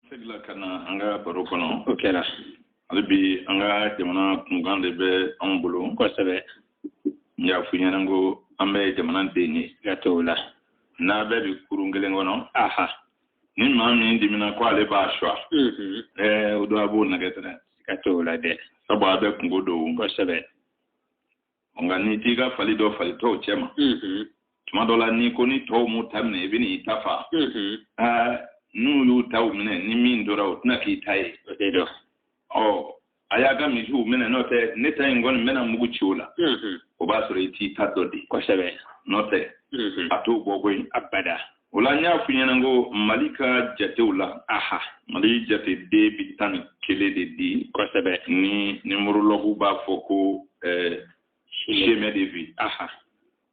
seginna ka na an ka baro kɔnɔ o kɛra hali bi an ka jamana kunkan de bɛ anw bolo kosɛbɛ n y'a f'i ɲɛna ko an bɛɛ jamana den ye siga t'o la n'an bɛɛ bi kurun kelen kɔnɔ aha ni maa min dimina ko ale b'a suwa o don a b'o nɛgɛn dɛrɛ siga t'o la dɛ sabu an bɛɛ kunko don kosɛbɛ nka n'i t'i ka fali dɔn fali tɔw cɛma tuma dɔ la n'i ko ni tɔw m'u ta minɛ i bɛ n'i ta fa n'u y'u taw minɛ ni min tora o tɛna k'i ta ye ɔ a y'a ka misiw minɛ n'o tɛ ne ta in kɔni n bɛna mugu ci o la o b'a sɔrɔ i t'i ta dɔn de kosɛbɛ n'o tɛ a t'o bɔ koyi abada o la n y'a f'i ɲɛna ko mali ka jatew la aha mali jate de bi tan ni kelen de di kosɛbɛ ni numérologue b'a fɔ ko eh, chemin de vie aha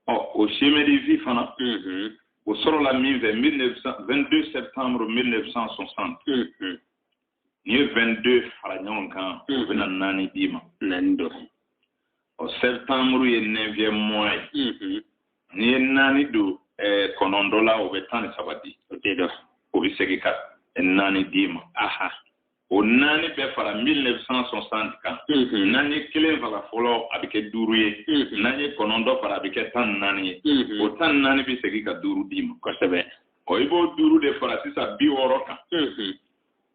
ɔ o chemin de vie fana mhm. o sɔrɔla min fɛ 1900 22 septembre 1960 n'i ye 22 fara ɲɔgɔn kan o mm-hmm. bɛna naani d'i ma naani don ɔ septembre ye neuvième mois ye mm-hmm. n'i ye naani don eh, kɔnɔntɔ la o bɛ tan ni saba di o de don o bɛ segin ka naani d'i ma o naani bɛ fara 1960 kan mm-hmm. n'an ye kelen fara fɔlɔ a bɛ kɛ duuru ye n'an ye kɔnɔntɔ fara a bɛ kɛ tan ni naani ye o tan ni naani bɛ segin ka duuru d'i ma kosɛbɛ ɔ i b'o duuru de fara sisan bi wɔɔrɔ kan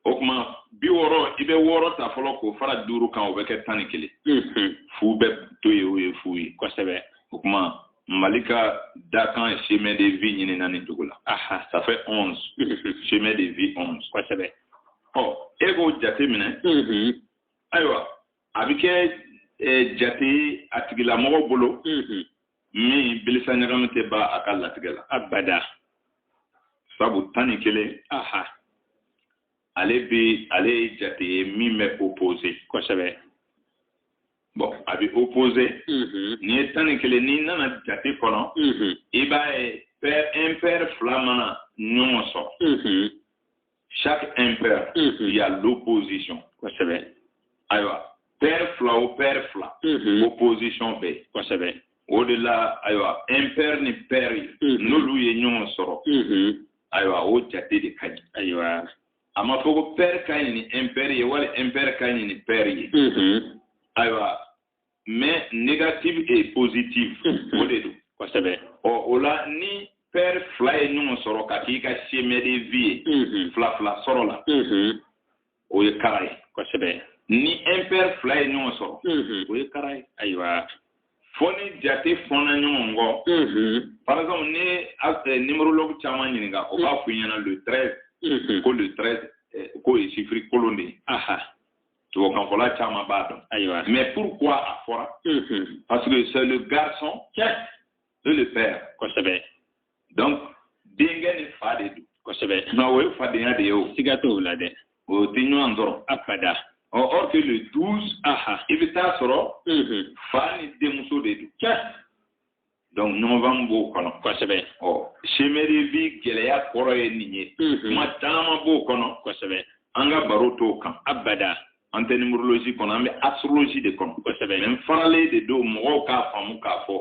o tuma bi wɔɔrɔ i bɛ wɔɔrɔ ta fɔlɔ k'o fara duuru kan o bɛ kɛ tan ni kelen mhm. fu bɛ to yen o ye fu ye kosɛbɛ o tuma mali ka dakan chemin de vie ɲinina nin cogo la ça fait onze mhm. chemin de vie onze kosɛbɛ ɔ e k'o jate minɛ mhm. ayiwa a bɛ kɛ eh, jate a tigilamɔgɔ bolo mhm. min bilisa ɲagami tɛ bɔ a ka latigɛ la abada sabu tan ni kelen aha ale bɛ ale ye jate ye min bɛ opposé kosɛbɛ bon a bɛ opposé mhm. n'i ye tan ni kelen n'i nana jate kɔnɔ mhm. i b'a ye pair impair fila mana ɲɔgɔn sɔrɔ mhm. chaque impair mm -hmm. il y a l'opposition kosɛbɛ ayiwa pair fila o pair fila mm -hmm. opposition bɛ yen kosɛbɛ o de la ayiwa impair ni pair ye mm -hmm. n'olu ye ɲɔgɔn sɔrɔ mm -hmm. ayiwa o jate de ka ɲi ayiwa a ma fɔ ko pair ka ɲi ni impair ye wali impair ka ɲi ni pair ye mm -hmm. ayiwa mais négative et positive mhm. o de don kosɛbɛ ɔ o la ni pair fila ye ɲɔgɔn sɔrɔ ka k'i ka chemin de vie ye mhm. fila fila sɔrɔla mhm. o ye kara ye kosɛbɛ ni impair fila ye ɲɔgɔn sɔrɔ o ye kara ye ayiwa fo ni jate fɔnna ɲɔgɔn kɔ par exemple n'i ye numérologue caman ɲininka o b'a fɔ i ɲɛna le 13 ko le 13 eh, k'o ye chiffre kolon de ye tubabukanfɔla caman b'a dɔn ayiwa mais pourquoi a fɔra parce que c'est le garçon tiɲɛ et le père kosɛbɛ donc denkɛ ni fa de don kosɛbɛ nka o ye fadenya de ye o siga t'o la dɛ o tɛ ɲɔgɔn sɔrɔ abada or que le 12 aha i bɛ t'a sɔrɔ fa ni denmuso de don tiɲɛ donc ɲɔgɔnfaamu b'o kɔnɔ kosɛbɛ ɔ chemin de vie gɛlɛya kɔrɔ ye nin ye kuma caman b'o kɔnɔ kosɛbɛ an ka baro t'o kan abada an tɛ numérologie kɔnɔ an bɛ astrologie de kɔnɔ kosɛbɛ mais faralen de don mɔgɔw k'a faamu k'a fɔ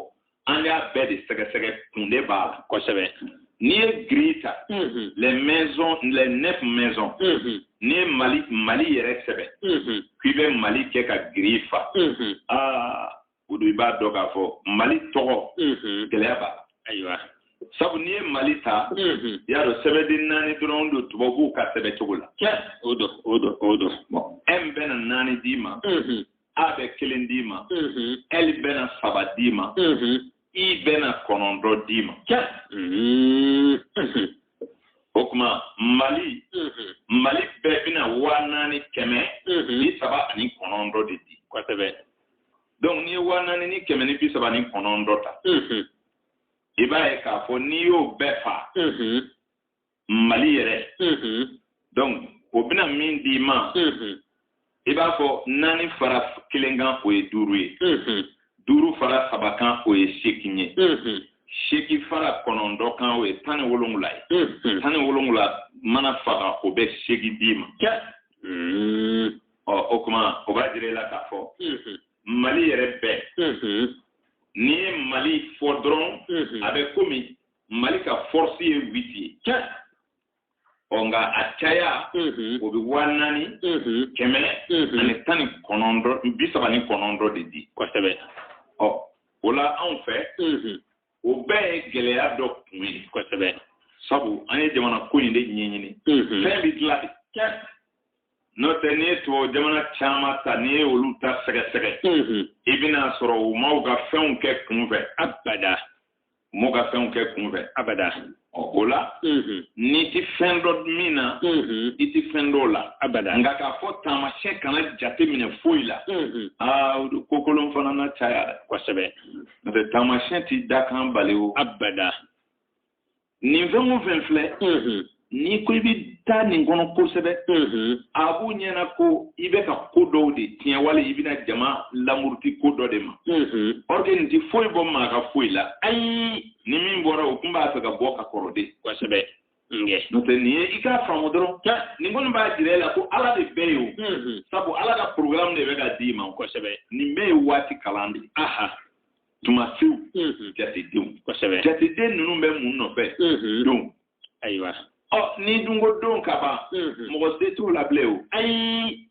an y'a bɛɛ de sɛgɛsɛgɛ kun de b'a la kosɛbɛ n'i ye grille ta les maisons les neuf maisons n'i ye mali mali yɛrɛ sɛbɛn k'i bɛ mali kɛ ka grille fa aa o don i b'a dɔn k'a fɔ mali tɔgɔ gɛlɛya b'a la ayiwa sabu n'i ye mali ta y'a dɔn sɛbɛden naani dɔrɔn don tubabuw ka sɛbɛ cogo la o don o don o don m bɛna naani d'i ma a bɛ kelen d'i ma l bɛna saba d'i ma i bɛna kɔnɔntɔn d'i ma o tuma mali mm-hmm. mali bɛɛ bɛna waa naani kɛmɛ mm-hmm. bi saba ani kɔnɔntɔn de di kosɛbɛ donc n'i ye waa naani ni kɛmɛ ni bi saba ni kɔnɔntɔn ta i b'a ye k'a fɔ n'i y'o bɛɛ fa mali yɛrɛ donc o bɛna min d'i ma i b'a fɔ naani fara kelen kan o ye duuru ye duuru fara saba kan o ye seegin ye seegin fara kɔnɔntɔn kan o ye tan ni wolonwula ye tan ni wolonwula mana faga o bɛ seegin d'i ma ɔ o kuma o b'a jira i la k'a fɔ mali yɛrɛ bɛɛ n'i ye mali fɔ dɔrɔn a bɛ komi mali ka force ye huit ye ɔ nka a caya o bɛ waa naani kɛmɛ ani tan ni kɔnɔntɔn bi saba ni kɔnɔntɔn de di kosɛbɛ ɔ o la anw fɛ o bɛɛ ye gɛlɛya dɔ kun ye kosɛbɛ sabu an ye jamana ko in de ɲɛɲini fɛn bɛ dilan de n'o tɛ n'i ye tubabu jamana caman ta n'i ye olu ta sɛgɛsɛgɛ i bɛna sɔrɔ u ma u ka fɛnw kɛ kunfɛ abada u ma u ka fɛnw kɛ kunfɛ abada o la n'i tɛ fɛn dɔn min na i tɛ fɛn dɔn o la abada nka k'a fɔ taamasiyɛn kana jate minɛ foyi la aa o don kokolon fana na caya dɛ kosɛbɛ n'o tɛ taamasiyɛn t'i dakan bali o abada nin fɛn o fɛn filɛ n'i ko i bɛ taa nin kɔnɔ kosɛbɛ a b'u ɲɛna ko i bɛ ka ko dɔw de tiɲɛ wali i bɛna jama lamuruti ko dɔ de ma ɔ nin tɛ foyi bɔ maa ka foyi la ayi ni min bɔra o tun b'a fɛ ka bɔ ka kɔrɔ de kosɛbɛ n'o tɛ nin ye i k'a faamu dɔrɔn nin kɔni b'a jira e la ko ala de bɛɛ ye o sabu ala ka porogaramu de bɛ ka d'i ma kosɛbɛ nin bɛɛ ye waati kalan de aha tumasiw jatedenw jateden ninnu bɛ mun nɔfɛ don ayiwa ɔ ni dunko don ka ban mɔgɔ se t'o la bilen o ayi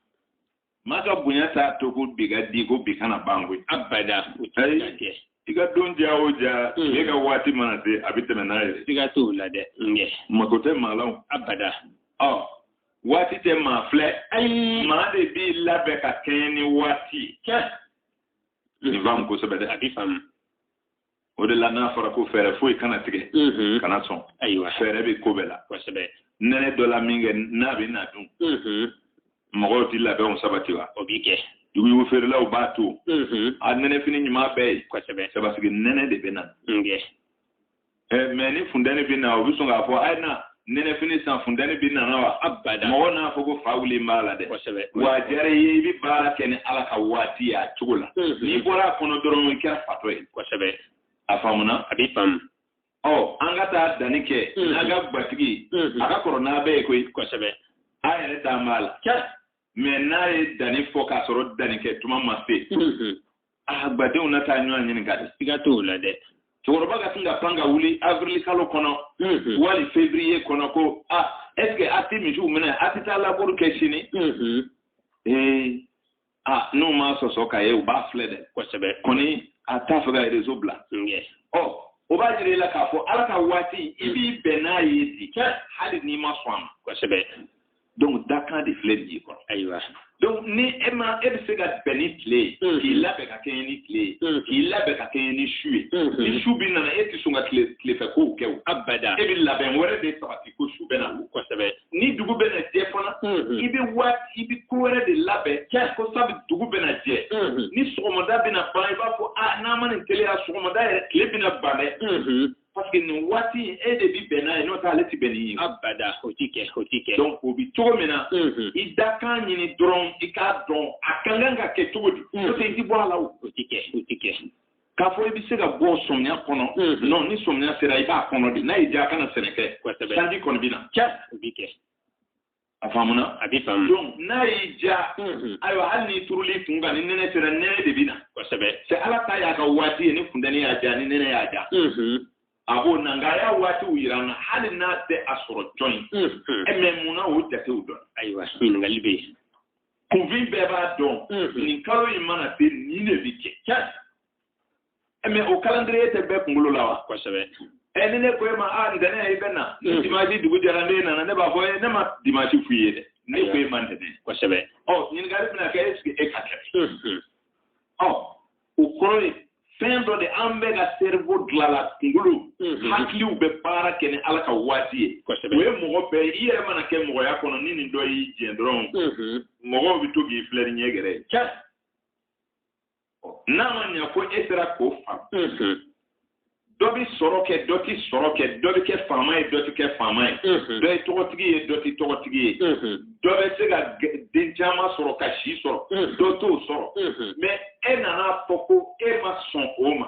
maa ka bonya t'a to ko bi ka di ko bi kana ban koyi abada o tɛ se ka kɛ i ka don diya o diya n'e ka waati mana se a bɛ tɛmɛ n'a ye siga t'o la dɛ mako tɛ maa la o abada ɔ waati tɛ maa filɛ ayi maa de b'i labɛn ka kɛɲɛ ni waati ye nin faamu kosɛbɛ dɛ a b'i faamu o de la n'a fɔra ko fɛɛrɛ foyi kana tigɛ mm-hmm. kana sɔn ayiwa fɛɛrɛ bɛ ko bɛɛ la kosɛbɛ nɛnɛ dɔnna minkɛ n'a bɛ na don mm-hmm. mɔgɔw tɛ labɛnw sabati wa o bɛ kɛ yuguyugu feerelaw b'a to mm-hmm. a nɛnɛfini ɲuman bɛɛ ye kosɛbɛ sabasigi nɛnɛ de bɛ na mais ni funteni bɛ na u bɛ sɔn k'a fɔ a ye na nɛnɛfini san funteni bɛ nana wa abada mɔgɔ n'a fɔ ko fa wuli b'a la dɛ wa a diyara i ye i bɛ baara kɛ ni ala ka waati ye a cogo la n'i bɔra a kɔnɔ dɔrɔn i kɛra fatɔ ye kosɛbɛ a faamuna a b'i faamu ɔ an ka taa danni kɛ n'a ka gwatigi a ka kɔrɔ n'a bɛɛ ye koyi kosɛbɛ a yɛrɛ da b'a la mais n'a ye danni fɔ k'a sɔrɔ danni kɛ tuma ma se aa gbadenw na taa ɲɔgɔn ɲininka de siga t'o la dɛ cɛkɔrɔba ka sin ka pan ka wuli avril kalo kɔnɔ mhm. wali février kɔnɔ ko a ah, est ce que a tɛ misiw minɛ a tɛ taa laburu kɛ sini mhm. ee a ah, n'u m'a sɔsɔ ka ye u b'a filɛ dɛ kosɛbɛ ko ni a t'a fɛ ka réseau bila ɔ o b'a jira i la k'a fɔ ala ka waati i b'i bɛn n'a ye de hali n'i ma sɔn a ma kosɛbɛ donc dakan de filɛ nin ye kɔrɔ ayiwa donc ni e ma e bɛ se ka bɛn ni tile ye mm. k'i labɛn ka kɛɲɛ ni tile ye mm. k'i labɛn ka kɛɲɛ ni su ye mm-hmm. ni su bɛ nana e tɛ sɔn ka tile tilefɛ kow kɛ o abada e bɛ labɛn wɛrɛ de sabati ko su bɛ na kosɛbɛ ni dugu bɛ na jɛ fana mm-hmm. i bɛ waati i bɛ ko wɛrɛ de labɛn ko sabu dugu bɛ na jɛ mm-hmm. ni sɔgɔmada bɛ na ban i b'a fɔ a ah, n'an ma nin teliya sɔgɔmada yɛrɛ tile bɛ na ban dɛ parce que nin waati in e de bi bɛn n'a ye n'o tɛ ale ti bɛn n'i ye. abada o ti kɛ o ti kɛ. donc o bi cogo min na. i dakan ɲini dɔrɔn i k'a dɔn a ka kan ka kɛ cogo di. n'o tɛ i ti bɔ a la o. o ti kɛ o ti kɛ. k'a fɔ i bɛ se ka bɔ sɔmiya kɔnɔ. non ni sɔmiya sera i b'a kɔnɔ de n'a y'i diya a kana sɛnɛ kɛ. kosɛbɛ sanji kɔni bɛ na. cɛ o bi kɛ. a faamuna a bɛ faamu donc n'a y'i diya ayiwa hali n'i turul'i kun kan ni nɛnɛ sera nɛnɛ de bɛ na kosɛbɛ c'est ala ta y'a ka waati ye ni funtɛni y'a diya ni nɛnɛ y'a diya a b'o na nka a y'a waatiw yira an na hali n'a tɛ a sɔrɔ jɔn ye mɛ mun na o jatew dɔn ayiwa hali bi kunfin bɛɛ b'a dɔn nin kalo in mana se nin de bɛ kɛ eh, mais o calendrier tɛ bɛɛ kunkolo la wa kosɛbɛ ɛ eh, ni ne ko e ma a ntɛnɛ i bɛ na ni dimanche dugu jɛra n'e nana ne b'a fɔ eh ne ma dimanche f'i ye dɛ ne ko e ma ntɛnɛ kosɛbɛ ɔ oh, ɲininkali bɛna kɛ est ce que e ka kɛ ɔ mm-hmm. oh, o kɔrɔ ye fɛn dɔ de an bɛɛ ka cerveau dilala kunkolo mm-hmm. hakiliw bɛ baara kɛ ni ala ka waati ye o ye mɔgɔ bɛɛ ye i yɛrɛ mana kɛ mɔgɔya kɔnɔ ni nin dɔ y'i jɛ dɔrɔn mm-hmm. mɔgɔw bɛ to k'i filɛ ni ɲɛ gɛrɛ ye n'a ma ɲɛ ko e sera k'o faamu dɔ bɛ sɔrɔ kɛ dɔ tɛ sɔrɔ kɛ dɔ bɛ kɛ faama ye dɔ tɛ kɛ faama ye dɔ ye tɔgɔtigi ye dɔ tɛ tɔgɔtigi ye dɔ bɛ se ka den caman sɔrɔ ka si sɔrɔ dɔ t'o sɔrɔ mais e nan'a fɔ ko e ma sɔn o ma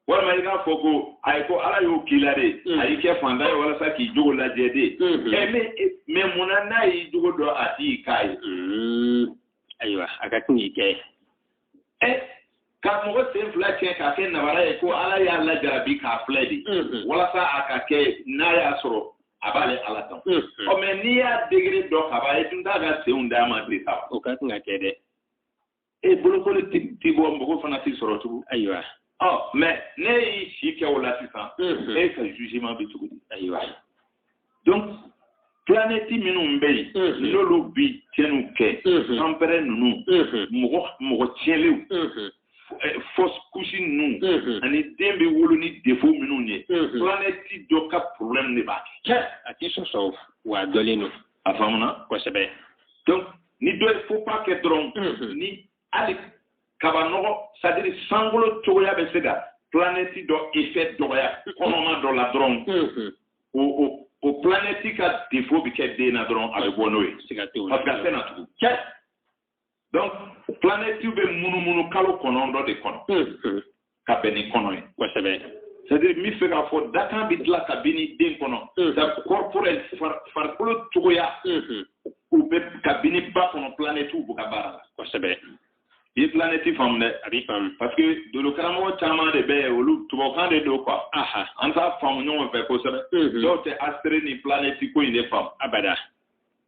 walima i k'a fɔ ko ayi ko ala y'o k'i la de mm. a y'i kɛ fantan ye walasa k'i jogo lajɛ de mm-hmm. ɛ mais mais munna n'a y'i jogo dɔn a t'i k'a ye. Mm. ayiwa a ka tun y'i kɛ. e ka mɔgɔ sen fila cɛ k'a kɛ nabara ye ko ala y'a lajarabi k'a filɛ de mm-hmm. walasa a ka kɛ n'a y'a sɔrɔ a b'ale ala dɔn. Mm-hmm. ɔ mais n'i y'a degré dɔn ka ban e tun t'a ka senw d'a ma de sa. o ka tun ka kɛ dɛ. e bolokoli ti bɔ mɔgɔ fana t'i sɔrɔ tugun ayiwa ɔ mais n'e y'i si kɛ o la sisan e ka jugement bɛ cogo di ayiwa donc planète minnu bɛ yen n'olu bi tiɲɛniw kɛ anpɛrɛ ninnu mɔgɔ mɔgɔ tiɲɛlenw fausse couche ninnu ani den bɛ wolo ni défaut minnu ye planète dɔ ka problème de b'a kɛ a t'i sɔsɔ wa a dɔnnen don a faamuna kosɛbɛ donc ni dɔ ye faux pas kɛ dɔrɔn mhm. ni hali kabanɔgɔ c'est à dire sankolo cogoya bɛ se ka planète dɔ effet dɔgɔya mhm. kɔnɔma dɔ la dɔrɔn mhm. o o o planète ka défaut bɛ kɛ den na dɔrɔn a bɛ bɔ n'o ye parce que a tɛ na tugun cɛ donc planète bɛ munumunu kalo kɔnɔntɔn de kɔnɔ ka bɛn ni kɔnɔ ye kosɛbɛ c'est-à-dire n bɛ fɛ k'a fɔ dakan bɛ dilan ka bɛn ni den kɔnɔ c'est-à-dire corporel farikolo cogoya u bɛ ka bɛn ni ba kɔnɔ planète b'u ka baara la kosɛbɛ i ye planète faamu dɛ a b'i faamu parce que dolo karamɔgɔ caman de bɛ yen olu tubabukan de don quoi an t'a faamu ɲɔgɔn fɛ kosɛbɛ dɔw tɛ astre ni planète ko in de faamu abada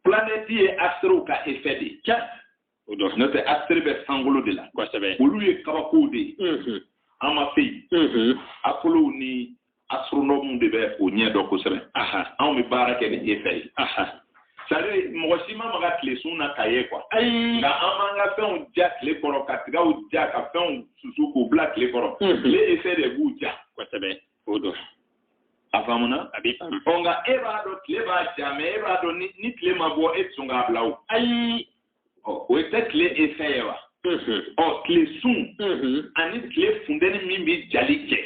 planète ye astrew ka effet de ye o dɔ n'o tɛ astre bɛ sankolo de la kosɛbɛ olu ye kabakow de ye mm-hmm. an ma se yen mm-hmm. akolow ni astronome de bɛ o ɲɛ dɔn kosɛbɛ anw bɛ baara kɛ ni effet ye c'est-à-dire mɔgɔ si ma maga tile sun na ka ye quoi nka an b'an ka fɛnw ja tile kɔrɔ ka tigaw ja ka fɛnw susu k'u bila tile kɔrɔ tile mm-hmm. effet de b'u ja kosɛbɛ o dɔ a faamuna a bɛ faamu ɔ nka e b'a dɔn tile b'a ja mais e b'a dɔn ni tile ma bɔ e tɛ sɔn k'a bila o ayi ɔ o ye tɛ tile effet ye wa ɔ tile sun ani tile funteni min bɛ jali kɛ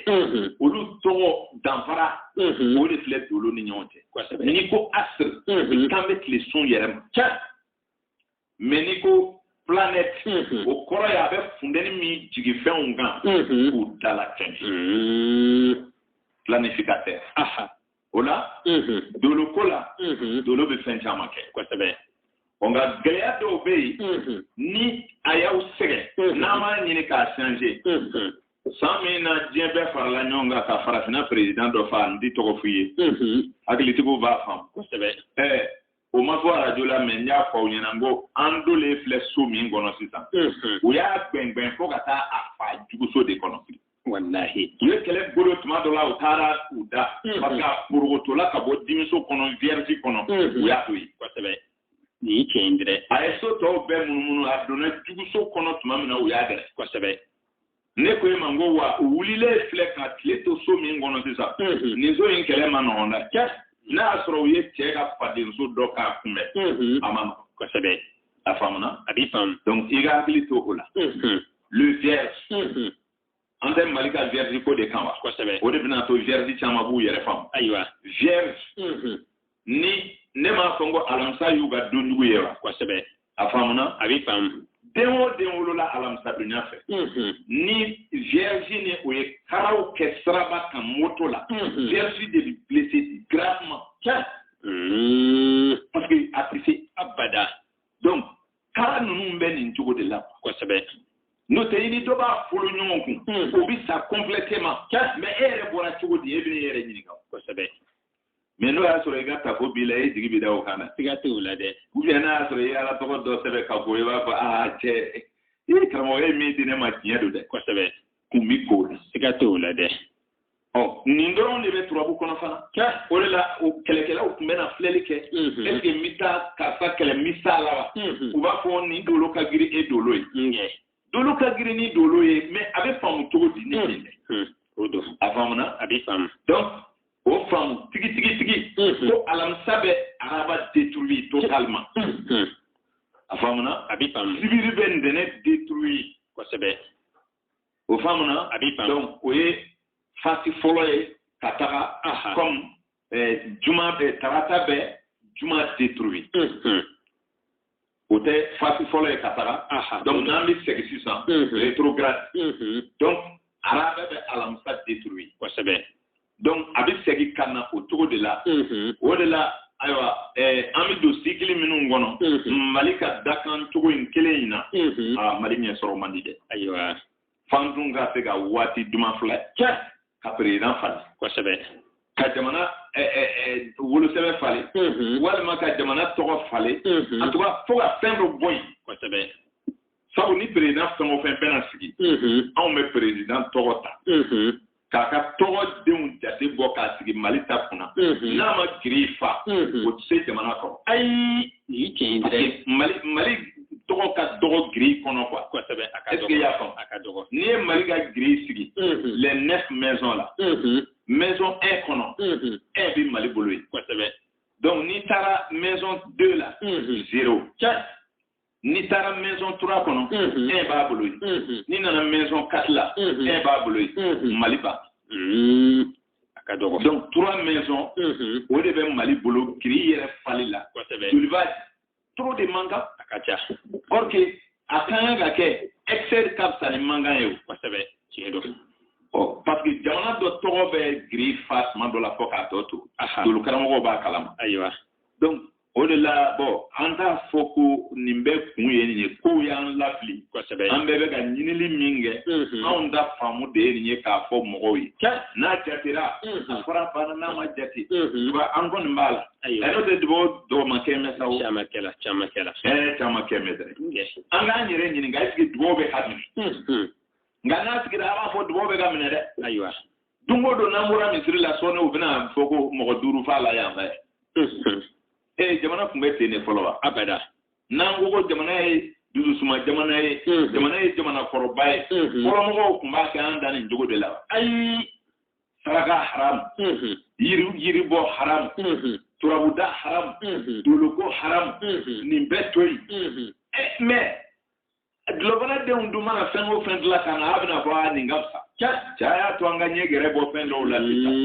olu tɔgɔ danfara o de filɛ dolo ni ɲɔgɔn cɛ n'i ko astre kan bɛ tile sun yɛrɛ ma mais n'i ko planète mm-hmm. o kɔrɔ ye a bɛ funteni min jigi fɛnw kan mm-hmm. k'u dala tɛmɛ mm-hmm. planificateur o la dolo ko la dolo bɛ fɛn caman kɛ kosɛbɛ ɔ nka gɛlɛya dɔw bɛ yen ni a y'aw sɛgɛn n'an b'a ɲini k'a changer san min na diɲɛ bɛɛ farala ɲɔgɔn kan ka farafinna perezidan dɔ fa n tɛ tɔgɔ f'i ye hakilitigiw b'a faamu kosɛbɛ ɛɛ o ma fɔ arajo la mais n y'a fɔ aw ɲɛna n ko an donlen filɛ so min kɔnɔ sisan u y'a gbɛngbɛn fo ka taa a fa juguso de kɔnɔ walahi u ye kɛlɛ bolo tuma dɔ la u taara u da mm-hmm. parce que a porokotola ka bɔ dimiso kɔnɔ vierge kɔnɔ mm-hmm. u y'a to yen kosɛbɛ nin ye tiɲɛ ye dɛ a ye so tɔw bɛɛ munumunu a donna juguso kɔnɔ tuma min na u y'a dɛrɛ kosɛbɛ ne ko e ma n ko wa u wulilen filɛ ka tile to so min kɔnɔ sisan mm-hmm. nin so in kɛlɛ man nɔgɔn dɛ cɛ n'a y'a sɔrɔ u ye cɛ ka fadenso dɔ k'a kunbɛn a man nɔgɔn kosɛbɛ a faamuna a b'i faamu donc i ka hakili to o la le vierge mhm. an tɛ mali ka vierge ko de kan wa kosɛbɛ o de bɛna to vierge caman b'u yɛrɛ faamu ayiwa vierge mhm. ni ne m'a fɔ n ko alamisa y'u ka donjugu ye wa kosɛbɛ a faamuna a bɛ faamu den o den wolola alamisa duniya fɛ mhm. ni vierge ni o ye karaw kɛ siraba kan moto la vierge de bɛ blessé gravement parce que a tɛ se abada donc kara ninnu bɛ nin cogo de la kosɛbɛ n'o tɛ i ni dɔ b'a folo ɲɔgɔn kun hmm. o bɛ sa complètement mais e yɛrɛ bɔra cogo di e bɛ e yɛrɛ ɲininka kosɛbɛ mais n'a y'a sɔrɔ i ka tafo b'i la e jigi bɛ da o kan na siga tɛ o la dɛ ou bien n'a y'a sɔrɔ i ye ala tɔgɔ dɔ sɛbɛn ka bɔ i b'a fɔ aa cɛ i karamɔgɔ ye min di ne ma tiɲɛ don dɛ kosɛbɛ kun bɛ ko la siga tɛ o la dɛ ɔ nin dɔrɔn de bɛ turabu kɔnɔ fana o de la o kɛlɛkɛlaw tun bɛna filɛli kɛ est ce que n bɛ taa karisa kɛlɛ n bɛ s'a la wa u b'a fɔ nin dolo ka girin e dolo ye dolo ka girin ni dolo ye mais a bɛ faamu cogo di ne nin dɛ o don a faamuna a bɛ faamu donc o faamu tigi tigi tigi ko alamisa bɛ araba détruit totalement a faamuna a bɛ faamu sibiri bɛ ntɛnɛ détruit kosɛbɛ o faamuna a b'i donc o ye fasi fɔlɔ ye ka taga comme eh, juma bɛ tarata bɛ juma détruit mm-hmm. o tɛ fasi fɔlɔ ye ka taga donc n'an bɛ segin sisan mm-hmm. rétrograde mm-hmm. donc araba bɛ alamisa détruit kosɛbɛ donc a bɛ segin ka na o cogo de la o de la ayiwa eh, an bɛ don sikili minnu kɔnɔ mali ka dakan cogo in kelen in na ah, mali ɲɛ sɔrɔ man di dɛ ayiwa f'an tun ka se ka waati duman filɛ cɛ ka perezidan falen kosɛbɛ ka jamana eh, eh, wolosɛbɛ falen walima ka jamana tɔgɔ falen en tout cas fo ka fɛn dɔ bɔ yen kosɛbɛ sabu ni perezidan fɛn o fɛn bɛna sigi anw bɛ perezidan tɔgɔ ta k'a ka tɔgɔ denw jate bɔ k'a sigi mali ta kunna n'a ma giri fa o tɛ se jamana kɔrɔ ayi nin tiɲɛ tɛ mali mali tɔgɔ ka dɔgɔ giri kɔnɔ quoi kosɛbɛ a ka dɔgɔ i y'a faamu a ka dɔgɔ n'i ye mali ka giri sigi les neuf maisons la maison un kɔnɔ un bɛ mali bolo yen kosɛbɛ donc n'i taara maison deux la zero n'i taara maison trois kɔnɔ un b'a bolo yen n'i nana maison quatre la un b'a bolo yen mali ba a ka dɔgɔ donc trois maison o de bɛ mali bolo giri yɛrɛ fali la il y a trop de manquants a ka ca or que a ka kan ka kɛ excès ka fisa ni manquant ye o kosɛbɛ tiɲɛ don parce que jamana dɔ tɔgɔ bɛ giri fa tuma dɔ la fo k'a tɔ to dolo karamɔgɔw b'a kalama ayiwa donc o de la bɔn an k'a fɔ ko nin bɛɛ kun ye nin ye kow y'an lafili kosɛbɛ an bɛɛ bɛ ka ɲinili min kɛ anw ta faamu de ye nin ye k'a fɔ mɔgɔw ye n'a jatera a fɔra fana n'a ma jate wa an kɔni b'a la ɛrɛ tɛ dugawu dɔgɔma kɛmɛ sa caman kɛla caman kɛla ɛɛ caman kɛmɛ dɛ an k'an yɛrɛ ɲininka est ce que dugawu bɛ ka minɛ nka n'a sigira an b'a fɔ dugawu bɛ ka minɛ dɛ ayiwa don o don n'an bɔra misiri la sɔɔni u bɛna fɔ ko mɔgɔ duuru faala yan fɛ ee jamana tun bɛ ten de fɔlɔ wa abada n'an ko ko jamana ye dususuma jamana ye jamana ye jamana kɔrɔba ye fɔlɔmɔgɔw tun b'a kɛ an dan nin cogo de la ayi saraka haram yiri yiri bɔ haram turabu da haram doloko haram nin bɛɛ to yen mais dulɔfana denw dun mana fɛn o fɛn dilan ka na a bɛna fɔ a nin ka fisa cɛ cɛ a y'a to an ka ɲɛ gɛrɛ bɔ fɛn dɔw la sisan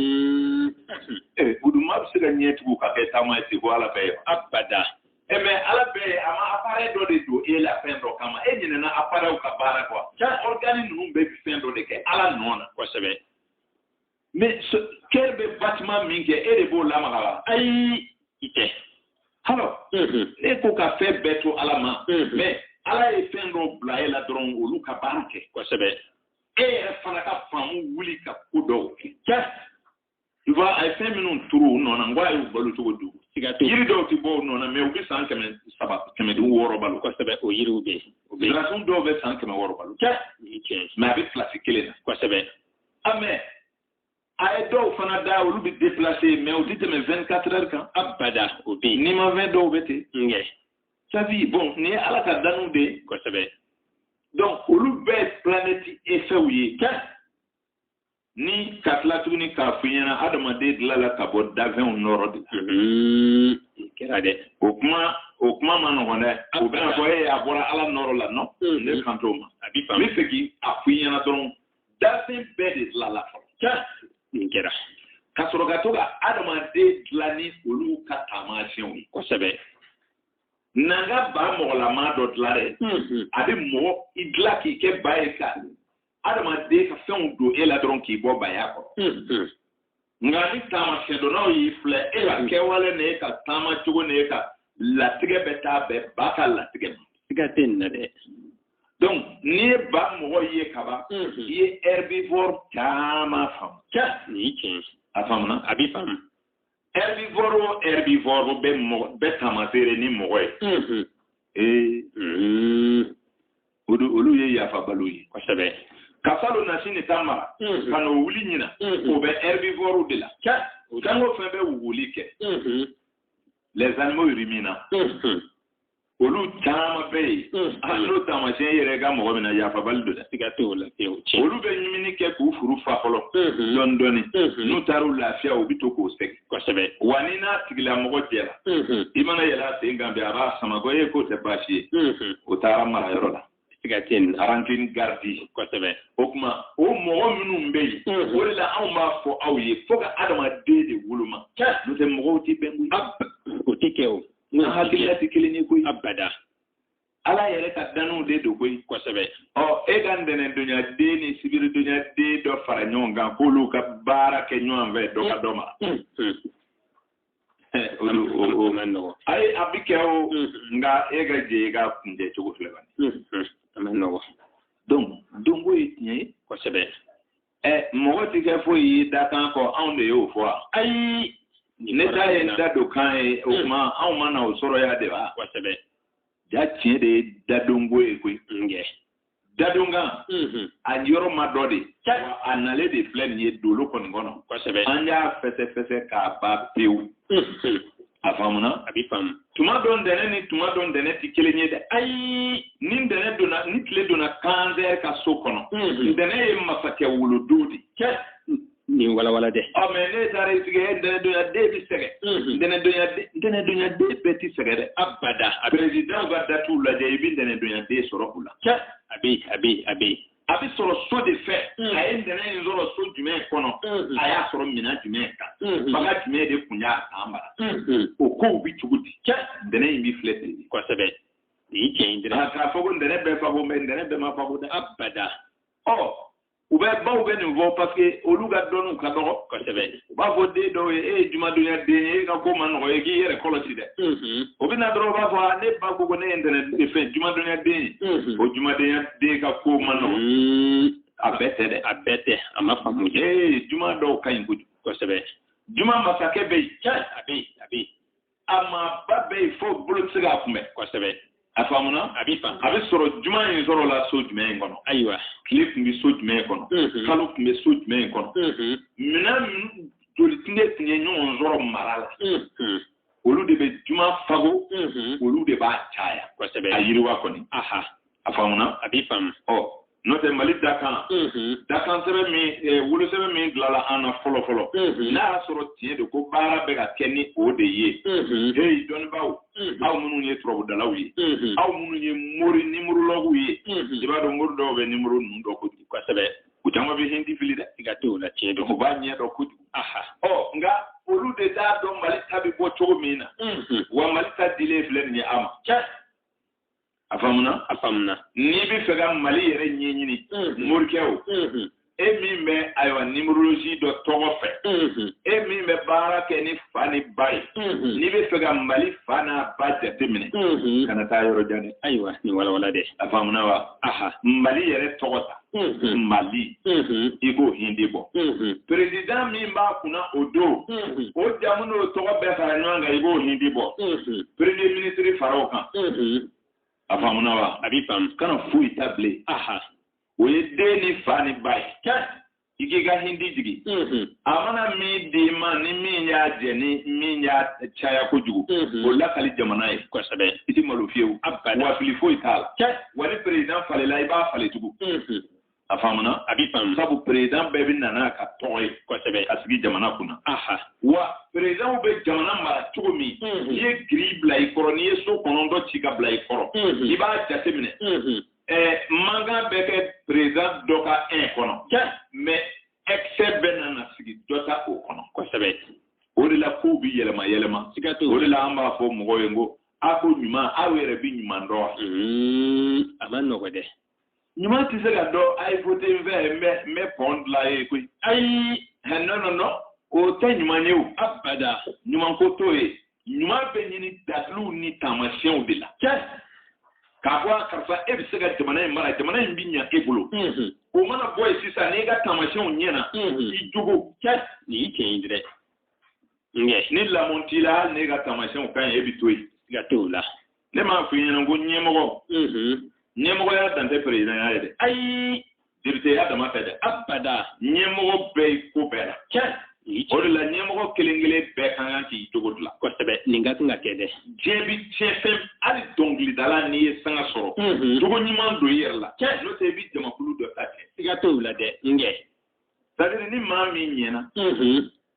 ee buduma bɛ se ka ɲɛ tugu ka kɛ taama ye sabu ala bɛ yen abada ɛ mais ala bɛ yen a ma appareil dɔ de don e la fɛn dɔ kama e ɲinɛna appareilw ka baara kɔ cɛ organe ninnu bɛɛ bɛ fɛn dɔ de kɛ ala nɔ na kosɛbɛ mais cœur bɛ battement min kɛ e de b'o lamaga wa ayi i tɛ alors e ko ka fɛn bɛɛ to ala ma mais ala ye fɛn dɔw bila e la dɔrɔn olu ka baara kɛ kosɛbɛ e yɛrɛ fana ka faamu wuli ka ko dɔw kɛ juste tu vois a ye fɛn minnu turu u nɔ na n ko ala y'u balo cogo di yiri dɔw tɛ bɔ u nɔ na mais u bɛ san kɛmɛ saba kɛmɛ duuru wɔɔrɔ balo kosɛbɛ o yiriw bɛ yen sirasun dɔw bɛ san kɛmɛ wɔɔrɔ balo juste mais a bɛ place kelen na kosɛbɛ a mais a ye dɔw fana da olu bɛ déplacer mais u tɛ tɛmɛ 24 heures kan abada o bɛ yen nimafɛn dɔw bɛ ten nkɛ sabu bon nin ye ala ka danu de ye kosɛbɛ donc olu bɛɛ ye planɛti efɛw ye cɛ ni ka tila tuguni k'a fɔ i ɲɛna adamaden dilanna ka bɔ dafɛnw nɔɔrɔ de la mhm. kɛra dɛ o kuma o kuma ma nɔgɔn dɛ o bɛna fɔ i ye a bɔra ala nɔɔrɔ la non hmm. ne kan t'o ma a bɛ faamu n b'a fɛ k'a fɔ i ɲɛna dɔrɔn dafɛn bɛɛ de dilanna fɔlɔ nin kɛra ka sɔrɔ ka to ka adamaden dilan ni olu ka taamasiyɛnw ye kosɛbɛ n'an ka ba mɔgɔlama dɔ dilan dɛ mm-hmm. a bɛ mɔgɔ i dilan k'i kɛ ba ye ka adamaden ka fɛnw don e la dɔrɔn k'i bɔ baya kɔrɔ mm-hmm. nka ni taamasiyɛn dɔnnaw y'i filɛ e ka mm. kɛwale ni e ka taama cogo ni e ka latigɛ bɛ taa bɛn ba ka latigɛ ma. siga tɛ nin na dɛ. donc n'i ye ba mɔgɔ ye kaban mm-hmm. i ye herbivore caman faamu. cɛ nin ye tiɲɛ ye. a faamuna. a b'i faamu. herbivore o herbivore bɛɛ bɛ taamaseere ni mɔgɔ ye. Mm-hmm. ee. Mm-hmm. o don olu ye yafabaliw ye kosɛbɛ ka salo nasi ni ta mara mm-hmm. ka n'o wuli ɲina mm-hmm. o bɛ herbivorew de la jango fɛn bɛ wuguli kɛ mm-hmm. les animaux ruminants olu caman bɛ yen hali n'o taamasiyɛn yɛrɛ ka mɔgɔ min na yafabali don dɛ siga t'o la olu bɛ ɲimini kɛ k'u furu fa fɔlɔ dɔɔni dɔɔni n'u taara u lafiya u bɛ to k'o segin kosɛbɛ wa n'i n'a tigilamɔgɔ jɛra i mana yɛlɛ a sen kan bi a b'a sama ko e k'o tɛ baasi ye o taara mara yɔrɔ la siga tɛ nin rancune garder kosɛbɛ o tuma o mɔgɔ minnu bɛ yen o de la anw b'a fɔ aw ye fo ka adamaden de woloma n'o tɛ mɔgɔw tɛ bɛn koyi o tɛ kɛ o n'an hakilila tɛ kelen ye koyi abada ala yɛrɛ ka danniw de don koyi kosɛbɛ ɔ e ka ntɛnɛndonya den ni sibiridonya den dɔ fara ɲɔgɔn kan k'olu ka baara kɛ ɲɔgɔn fɛ dɔ ka dɔ ma ayi a bɛ kɛ o nka e ka jɛ i k'a kuncɛ cogo filɛ ka don donko ye tiɲɛ ye kosɛbɛ ɛ mɔgɔ ti kɛ foyi ye dakan kɔ anw de y'o fɔ wa ayi ne ta ye n dadonkan ye o tuma anw ma na o sɔrɔ yan de wa kosɛbɛ ja tiɲɛ de ye dadonko ye koyi nkɛ dadonkan mm-hmm. a yɔrɔ ma dɔn de a nalen de filɛ nin ye doloko nin kɔnɔ kosɛbɛ an y'a fɛsɛfɛsɛ k'a ban pewu mm-hmm. a faamuna a bɛ faamu tuma dɔ ntɛnɛ ni tuma dɔ ntɛnɛ tɛ kelen ye dɛ ayi ni ntɛnɛ donna ni tile donna cancer ka so kɔnɔ mm-hmm. ntɛnɛ ye masakɛ wolodon de ye nin walawala dɛ ɔ mais n'e taara i sigi e ntɛnɛdonya den bɛ sɛgɛn ntɛnɛdonya ntɛnɛdonya den bɛɛ tɛ sɛgɛn dɛ abada a bɛ prezidanw ka datiw lajɛ i bɛ ntɛnɛdonya den sɔrɔ u la cɛ a bɛ a bɛ a bɛ a bɛ sɔrɔ so de fɛ a ye ntɛnɛn in sɔrɔ so jumɛn kɔnɔ a y'a sɔrɔ minɛn jumɛn kan fanga jumɛn de tun y'a san mara o kow bɛ cogo di cɛ ntɛnɛn in bɛ filɛ ten de kosɛbɛ nin cɛ in dɛrɛ k'a fɔ ko ntɛnɛn bɛɛ fago mais ntɛnɛn bɛɛ ma fago dɛ abada ɔ ɔ denbaw bɛ nin fɔ parce que olu ka dɔnniw ka dɔgɔ kosɛbɛ u b'a fɔ den dɔw ye e ye jumadonya den ye e ka ko ma nɔgɔ e k'i yɛrɛ kɔlɔsi dɛ o bɛ na dɔrɔn u b'a fɔ ne ba ko ko ne ye ntɛnɛn fɛn jumadonya den ye o jumadonya den ka ko ma nɔgɔ a bɛɛ tɛ dɛ a bɛɛ tɛ a ma faamu ee juma dɔw ka ɲi kojugu kosɛbɛ juma masakɛ bɛ yen a bɛ yen a bɛ yen a maaba bɛ yen fo bolo tɛ se k'a kunbɛn kosɛbɛ a faamuna a bɛ faamu a bɛ sɔrɔ juma in sɔrɔla so jumɛn in kɔnɔ ayiwa tile tun bɛ so jumɛn in kɔnɔ kalo tun bɛ so jumɛn in kɔnɔ minɛn joli tun de tun ye ɲɔgɔn sɔrɔ mara la olu de bɛ juma fago olu de b'a caya kosɛbɛ a yiriwa kɔni a faamuna a bi faamu ɔ n'o tɛ mali dakan dakan sɛbɛn min eh, wolo sɛbɛn min dilala an na fɔlɔ fɔlɔ n'a y'a sɔrɔ tiɲɛ don ko baara bɛ ka kɛ ni o de ye heyi dɔnnibaaw aw minnu ye turabudalaw ye aw minnu ye mori nimorolɔguw ye i b'a dɔn mori dɔw bɛ nimoro ninnu dɔn kojugu kosɛbɛ u caman bɛ hindi fili dɛ i ka t'o la tiɲɛ don u b'a ɲɛdɔn kojugu ɔ nka olu de t'a dɔn mali ta bɛ bɔ cogo min na wa mali ta dilen filɛ nin ye a ma a faamuna a faamuna n'i bɛ fɛ ka mali yɛrɛ ɲɛɲini morikɛ o e min bɛ ayiwa nimerolozi dɔn tɔgɔ fɛ e min bɛ baara kɛ ni fa ni ba ye n'i bɛ fɛ ka mali fa n'a ba jateminɛ kana taa yɔrɔ jan dɛ ayiwa nin walawala dɛ a faamuna wa aha mali yɛrɛ tɔgɔ ta mali i k'o hindi bɔ perezidan min b'a kunna o don o jamu n'o tɔgɔ bɛɛ fara ɲɔgɔn kan i k'o hindi bɔ peremiye minisiri fara o kan a faamuna wa a b'i faamu kana foyi ta bilen o ye den ni fa ni ba ye i k'i ka hindi jigin a mana min d'i ma ni min y'a jɛ ni min y'a caya kojugu mhm. o lakali jamana ye kosɛbɛ i tɛ malo fiyewu wa fili foyi t'a la wa ni perezidan falenna i b'a falen tugun mhm. a faamuna a b'i faamu sabu perezidan bɛɛ bɛ na n'a ka tɔgɔ ye kosɛbɛ ka sigi jamana kunna wa perezidanw bɛ jamana mara cogo min mhm. n'i ye giri bila i kɔrɔ n'i ye so kɔnɔntɔn ci ka bila i kɔrɔ i b'a jateminɛ manki bɛ kɛ perezidan dɔ ka ɛn kɔnɔ mɛ ɛkisɛ bɛna na sigi dɔ ta o kɔnɔ kosɛbɛ o de la kow bi yɛlɛma yɛlɛma o de la an b'a fɔ mɔgɔw ye n ko a ko ɲuman aw yɛrɛ bi ɲuman dɔn wa hmm, a ma nɔgɔ dɛ ɲuman tɛ se ka dɔn a ye wote n fɛ n bɛ n bɛ pɔn dila aw ye koyi ayi nɔnɔnɔ o tɛ ɲuman ye o abada ɲuman ko t'o ye ɲuman bɛ ɲini daliluw ni taamasiyɛnw de la k'a fɔ a karisa e bɛ se ka jamana in mara jamana in bɛ ɲa e bolo o mana bɔ yen sisan n'i ka taamasiyɛnw ɲɛna i jogo nin y'i tiɲɛ ye dɛ ni lamɔ t'i la hali n'e ka taamasiyɛnw ka ɲi e bɛ to yen i ka t'o la ne m'a f'i ɲɛna ko ɲɛmɔgɔ ɲɛmɔgɔya dan tɛ perezidanya ye dɛ ayi depiteya dama tɛ dɛ abada ɲɛmɔgɔ bɛ yen ko bɛɛ la tiɲɛ o de la ɲɛmɔgɔ kelen kelen bɛɛ ka kan k'i jogo dilan kosɛbɛ nin ka kan ka kɛ dɛ diɲɛ bi tiɲɛ fɛn hali dɔnkilidala n'i ye sanga sɔrɔ jogo ɲuman don i yɛrɛ la tiɲɛ n'o tɛ i bi jamakulu dɔ ta kɛ siga t'o la dɛ n kɛ sadiri ni maa min ɲɛna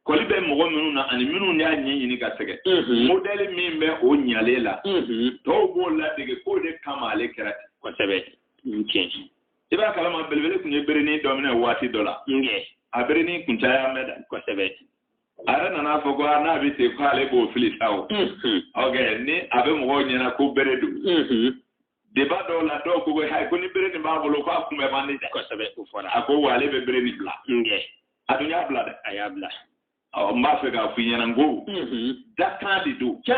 kɔli bɛ mɔgɔ minnu na ani minnu y'a ɲɛɲini ka sɛgɛn mhm. modɛli min bɛ o ɲalen la mhm. dɔw b'o ladege k'o de kama ale kɛra ten kosɛbɛ tiɲɛ i b'a kalama belebele tun ye berenin dɔ minɛ waati dɔ la a berenin kuncaya mɛ da kosɛbɛ a yɛrɛ nana fɔ ko n'a bɛ ten k'ale b'o fili sa o mhm. ok ni a bɛ mɔgɔw ɲɛna ko bere don deba dɔw la dɔw ko hayi ko ni bere nin b'a bolo k'a kunbɛn man di dɛ kosɛbɛ o fɔra a ko wa ale bɛ bere nin bila nkɛ a dun y'a bila dɛ a y'a bila n b'a fɛ k'a f'i ɲɛna n ko dakan de don cɛ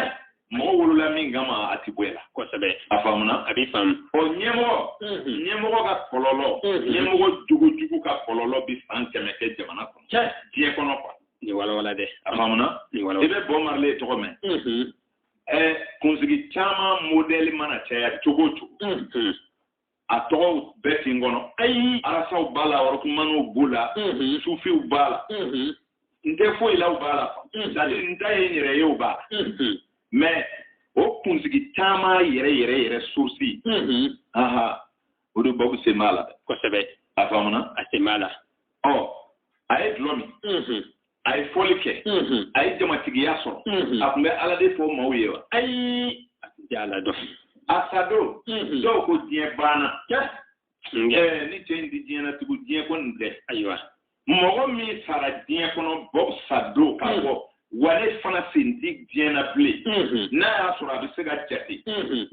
mɔgɔ wolola min kama a ti bɔ o la kosɛbɛ a faamuna a b'i faamu ɔ ɲɛmɔgɔ ɲɛmɔgɔ ka kɔlɔlɔ ɲɛmɔgɔ jogo jugu ka kɔlɔlɔ bi san kɛmɛ kɛ jamana kɔnɔ cɛ diɲɛ kɔnɔ ayiwa nin walawala dɛ a faamuna i bɛ bɔbu marile tɔgɔ mɛn ɛ kunsigi caman modɛli mana caya cogo o cogo a tɔgɔw bɛɛ tɛ n kɔnɔ ayi arasaw b'a la ɔrɔkumaniw b'u la sufiw b'a la n tɛ foyi law b'a la c'est-à-dire n ta ye n yɛrɛ yew b'a la mɛ o kunsigi caman yɛrɛ yɛrɛ yɛrɛ source aha o de Bɔbu sen b'a la dɛ kosɛbɛ a faamuna a sen b'a la ɔ a ye dulɔ min a ye fɔli kɛ a ye jamatigiya sɔrɔ a tun bɛ ala de fɔ maaw ye wa ayi a tun tɛ ala dɔn a sadon dɔw ko diɲɛ banna ni cɛ in tɛ diɲɛ na tugu diɲɛ ko nin tɛ ayiwa mɔgɔ min sara diɲɛ kɔnɔ Bɔbu sadon k'a fɔ ale fana sen tɛ diɲɛ na bilen n'a y'a sɔrɔ a bɛ se ka jate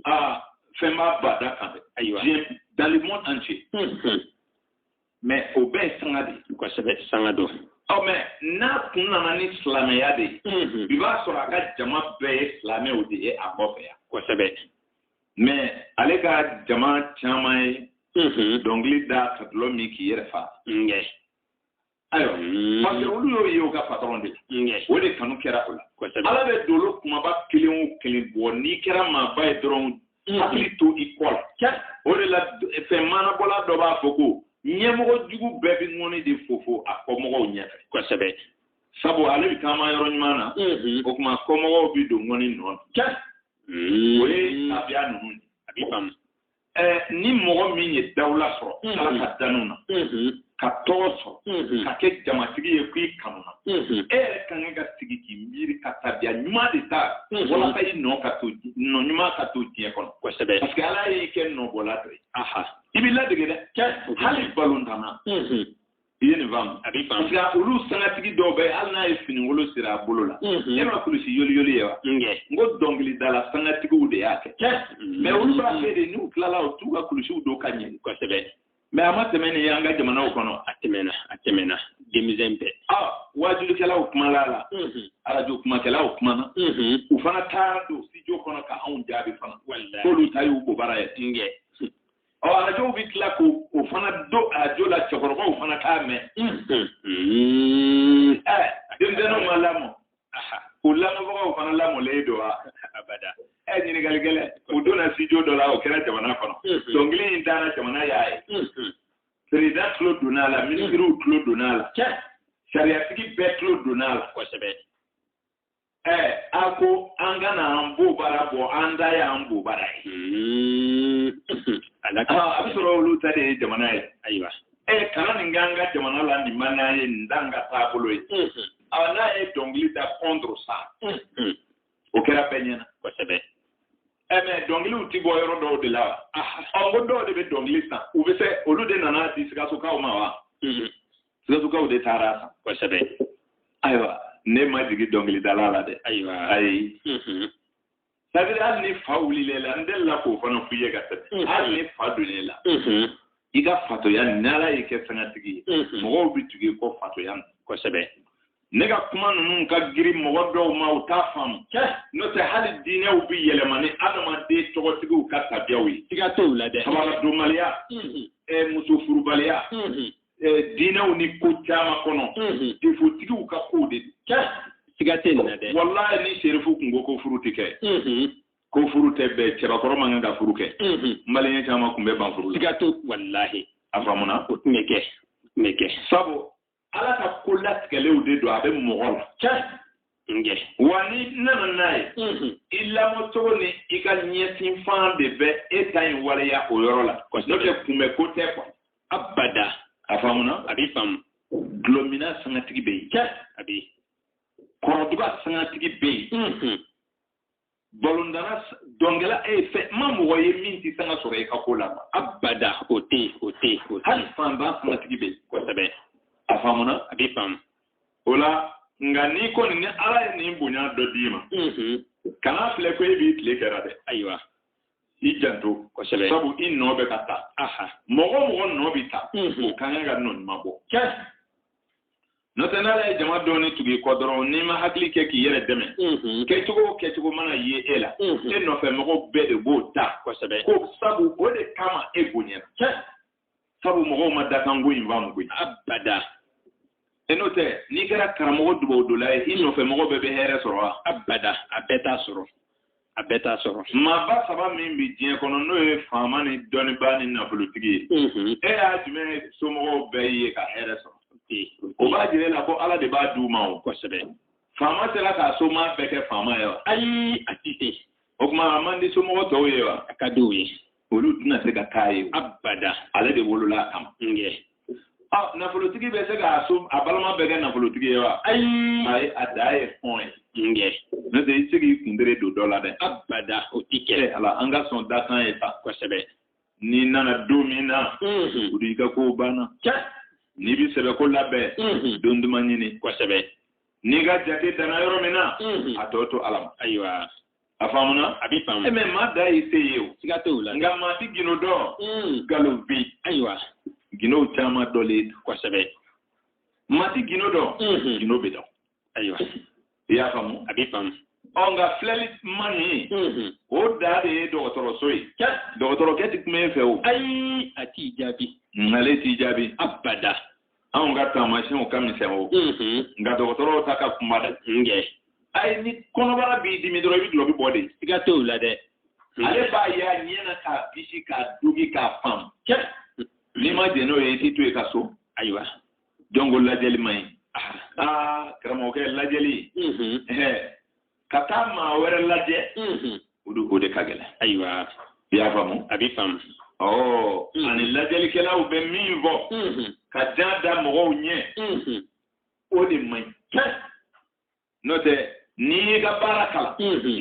aa fɛn b'a bada kan dɛ ayiwa diɲɛ dans le monde entier mɛ o bɛɛ ye sanga de ye kosɛbɛ sanga don ɔ mɛ n'a tun nana ni silamɛya de ye mm-hmm. bi b'a sɔrɔ a ka jama bɛɛ ye silamɛw de ye a kɔfɛ yan kosɛbɛ mɛ ale ka jama caman ye mm-hmm. dɔnkili da ka dulɔ min k'i yɛrɛ fa ayiwa mm-hmm. parce que olu y'o ye u ka patɔrɔn de la o de kanu kɛra o la ala bɛ dolo kunbaba kelen o kelen bɔ n'i kɛra maaba ye dɔrɔn mm. hakili to i kɔ la o de la fɛn maanabɔla dɔ b'a fɔ ko ɲɛmɔgɔ jugu bɛɛ bɛ ŋɔni de fofo a kɔmɔgɔw ɲɛfɛ kosɛbɛ sabu ale bɛ taama yɔrɔ ɲuman na mm-hmm. o tuma kɔmɔgɔw bɛ don ŋɔni nɔ na mm-hmm. o ye tabiya ninnu ye a bɛ faamu ni mɔgɔ min ye dawula sɔrɔ mm-hmm. ala ka danu na ka tɔgɔ sɔrɔ mm-hmm. ka kɛ jamatigi ye k'i kanuna mm-hmm. e yɛrɛ ka kan ka sigi k'i miiri ka tabiya ɲuman de ta mm-hmm. walasa i nɔ ka to nɔ ɲuman ka to diɲɛ kɔnɔ kosɛbɛ parce que ala y'i kɛ nɔbɔla dɔ ye i bɛ ladege dɛ kɛ hali balontanna i ye nin faamu a b'i faamu parce que olu sangatigi dɔw bɛ hali n'a ye finikolon siri a bolo la e ma kulusi yoliyoli ye wa n ko dɔnkilidala sangatigiw de y'a kɛ mɛ olu b'a fɛ de n'u tilala u t'u ka kulusiw don ka ɲɛ kosɛbɛ mɛ a ma tɛmɛ nin an ka jamanaw kɔnɔ a tɛmɛna a tɛmɛna denmisɛn bɛɛ waajulikɛlaw kumala a la arajo kumakɛlaw kumana u fana taara don studio kɔnɔ ka anw jaabi fana k'olu ta y'u bobara ye tiɲɛ ɔ arajow bɛ tila k'o fana don arajo la cɛkɔrɔbaw fana t'a mɛn denmisɛnninw ma lamɔ u lamɔbagaw fana lamɔlen don wa abada ɛ ɲininkali gɛlɛn u donna studio dɔ la o kɛra jamana kɔnɔ dɔnkili in dara jamana y'a ye perezidan tulo donna a la minisiriw tulo donna a la sariyatigi bɛɛ tulo donna a la kosɛbɛ ɛ a ko an ka na an bobara bɔ an ta y'an bobara ye a bɛ sɔrɔ olu ta de ye jamana ye ayiwa ɛ kana nin k'an ka jamana la nin man n'an ye nin t'an ka taabolo ye ɔ n'a ye dɔnkili da contre ça o kɛra bɛɛ ɲɛna kosɛbɛ ɛ mɛ dɔnkiliw ti bɔ yɔrɔ dɔw de la wa ɔ ko dɔw de bɛ dɔnkili san u bɛ se olu de nana di sikasokaw ma wa sikasokaw de taara a san kosɛbɛ ayiwa ne ma jigin dɔnkilidala la dɛ ayiwa ayi sadiri hali ni fa wulil'e la n delila k'o fana f'i ye ka tɛmɛ hali ni fa donn'e la i ka fatoya ni ala y'i kɛ sangatigi ye mɔgɔw bɛ tugu i kɔ fatoya na kosɛbɛ ne ka kuma ninnu ka giri mɔgɔ dɔw ma u t'a faamu n'o tɛ hali diinɛw bɛ yɛlɛma ni adamaden tɔgɔtigiw ka tabiyaw ye siga t'o la dɛ kabaladonbaliya muso furubaliya eh, diinɛw ni ko caman kɔnɔ mhm. defotigiw ka kow de don siga tɛ nin na dɛ walayi ni serifu kun ko ko furu tɛ kɛ mhm. ko furu tɛ bɛn cɛbakɔrɔ man kan ka furu kɛ mhm. maliyɛn caman kun bɛ ban furu la siga t'o walahi a faamuna o tun bɛ kɛ tun bɛ kɛ sabu ala ka ko latigɛlenw de don a bɛ mɔgɔ la wa ni nana n'a ye mm-hmm. i lamɔ cogo ni i ka ɲɛsin fan de bɛ e ta in waleya o yɔrɔ la n'o tɛ kunbɛn ko tɛ koyi abada a faamuna a b'i faamu dɔlɔminna sangatigi bɛ yen a bɛ yen kɔrɛduga sangatigi bɛ yen balontanna dɔnkɛla e ye fɛn n ma mɔgɔ ye min tɛ sanga sɔrɔ i ka ko la abada o tɛ yen o tɛ yen o tɛ yen hali fanba sangatigi bɛ yen kosɛbɛ a faamuna a b'i faamu o la nka n'i kɔni ni ala ye nin bonya dɔ d'i ma kana filɛ ko e b'i tile kɛra dɛ ayiwa i janto kosɛbɛ sabu i nɔ bɛ ka ta mɔgɔ o mɔgɔ nɔ bɛ ta o ka kan ka nɔ ɲuman bɔ n'o tɛ n'ala ye jama dɔɔni tugu i kɔ dɔrɔn n'i ma hakili kɛ k'i yɛrɛ dɛmɛ kɛcogo o kɛcogo mana ye e la e nɔfɛ mɔgɔw bɛɛ de b'o ta kosɛbɛ ko sabu o de kama e bonyana sabu mɔgɔw ma dakanko in faamu koyi abada e n'o tɛ n'i kɛra karamɔgɔ dubawudonna ye i nɔfɛ mɔgɔ bɛɛ bɛ hɛrɛ sɔrɔ wa abada a bɛɛ t'a sɔrɔ a bɛɛ t'a sɔrɔ maaba saba min bɛ diɲɛ kɔnɔ n'o ye faama ni dɔnnibaa ni nafolotigi ye e y'a jumɛn somɔgɔw bɛɛ ye ka hɛrɛ sɔrɔ o b'a jira e la ko ala de b'a d'u ma o kosɛbɛ faama sera k'a somaa bɛɛ kɛ faama ye wa ayi a tɛ se o tuma a man di somɔgɔ tɔw ye wa a ka di u ye olu tɛna se ka k'a ye abada ale de wolola a kama ɔ nafolotigi bɛ se k'a so a balima bɛɛ kɛ nafolotigi ye wa ayi ayi a dan ye hɔn ye n'o tɛ i tɛ se k'i kuntere don dɔ la dɛ abada o tɛ kɛ ala an ka sɔn dakan ye sa kosɛbɛ n'i nana don min na o de y'i ka kow banna n'i bɛ sɛbɛko labɛn don duman ɲini kosɛbɛ n'i ka jate danna yɔrɔ min na a tɔ to ala ma ayiwa a faamuna a bɛ faamu mɛ maa da y'i se ye o siga t'o la nka maa ti gino dɔn nkalon hmm. bi ayiwa ginow caman dɔlen kosɛbɛ maa ti gino dɔn hmm. gino bɛ dɔn ayiwa i y'a faamu a bɛ faamu ɔ nka filɛli man ɲi hmm. o da de ye dɔgɔtɔrɔso ye dɔgɔtɔrɔkɛ ti kuma e fɛ o ayi a t'i jaabi ale t'i jaabi abada anw ka taamasiyɛnw ka misɛn o nka dɔgɔtɔrɔw ta ka kunba dɛ ayi ni kɔnɔbara b'i dimi dɔrɔn i bɛ dulɔki bɔ de i k'a to i la dɛ ale b'a ye a ɲɛ na k'a bisi k'a digi k'a faamu n'i ma jɛn n'o ye i t'i to i ka so ayiwa donc o lajɛli man ɲi aa karamɔgɔkɛ lajɛli ka taa maa wɛrɛ lajɛ o de o de ka gɛlɛn ayiwa i y'a faamu a bɛ faamu ɔ ani lajɛlikɛlaw bɛ min fɔ ka jan da mɔgɔw ɲɛ o de man ɲi n'o tɛ n'i y'i ka baara kalan